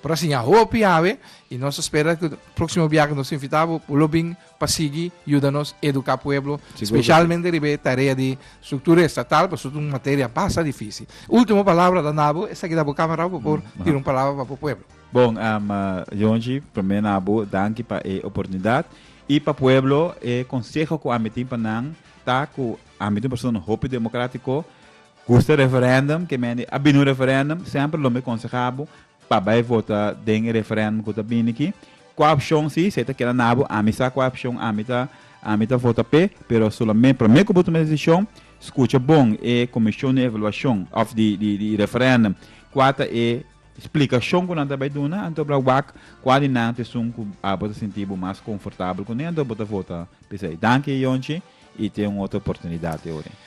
Por a siña hopi awe y nos ta spera cu proximo biaha cu nos ta invita bo bo lo bin pa sigui yuda nos educa pueblo, specialmente riba e tarea di structura estatal pasobra ta un materia basta dificil. Ultimo palabra ta na bo, esta aki ta bo camerao pa por tira un palabra pa bo pueblo. Bon, Yonchi, prome na bo danki pa e oportunidad y pa pueblo e conseho cu ami tin pa nan ta cu ami ta un persona hopi democratico, Gusta referendum, ke mende a bini un referendum, semper lo mi konseha bo pa bai vota den e referendum ku ta bini aki. Kua opshon si, si e ta keda na bo, ami sa kua opshon ami ta ami ta vota p'e, pero solamen promé ku bo tuma e desishon, skucha bon e komishon di evaluashon òf di di di referendum kua ta e splikashon ku nan ta bai duna, anto bra wak kua di nan ta esun ku abo ta sinti bo mas konfortabel kuné, anto bo ta vota p'esei. Danki Yonchi i ten un otro oportunidat te ora.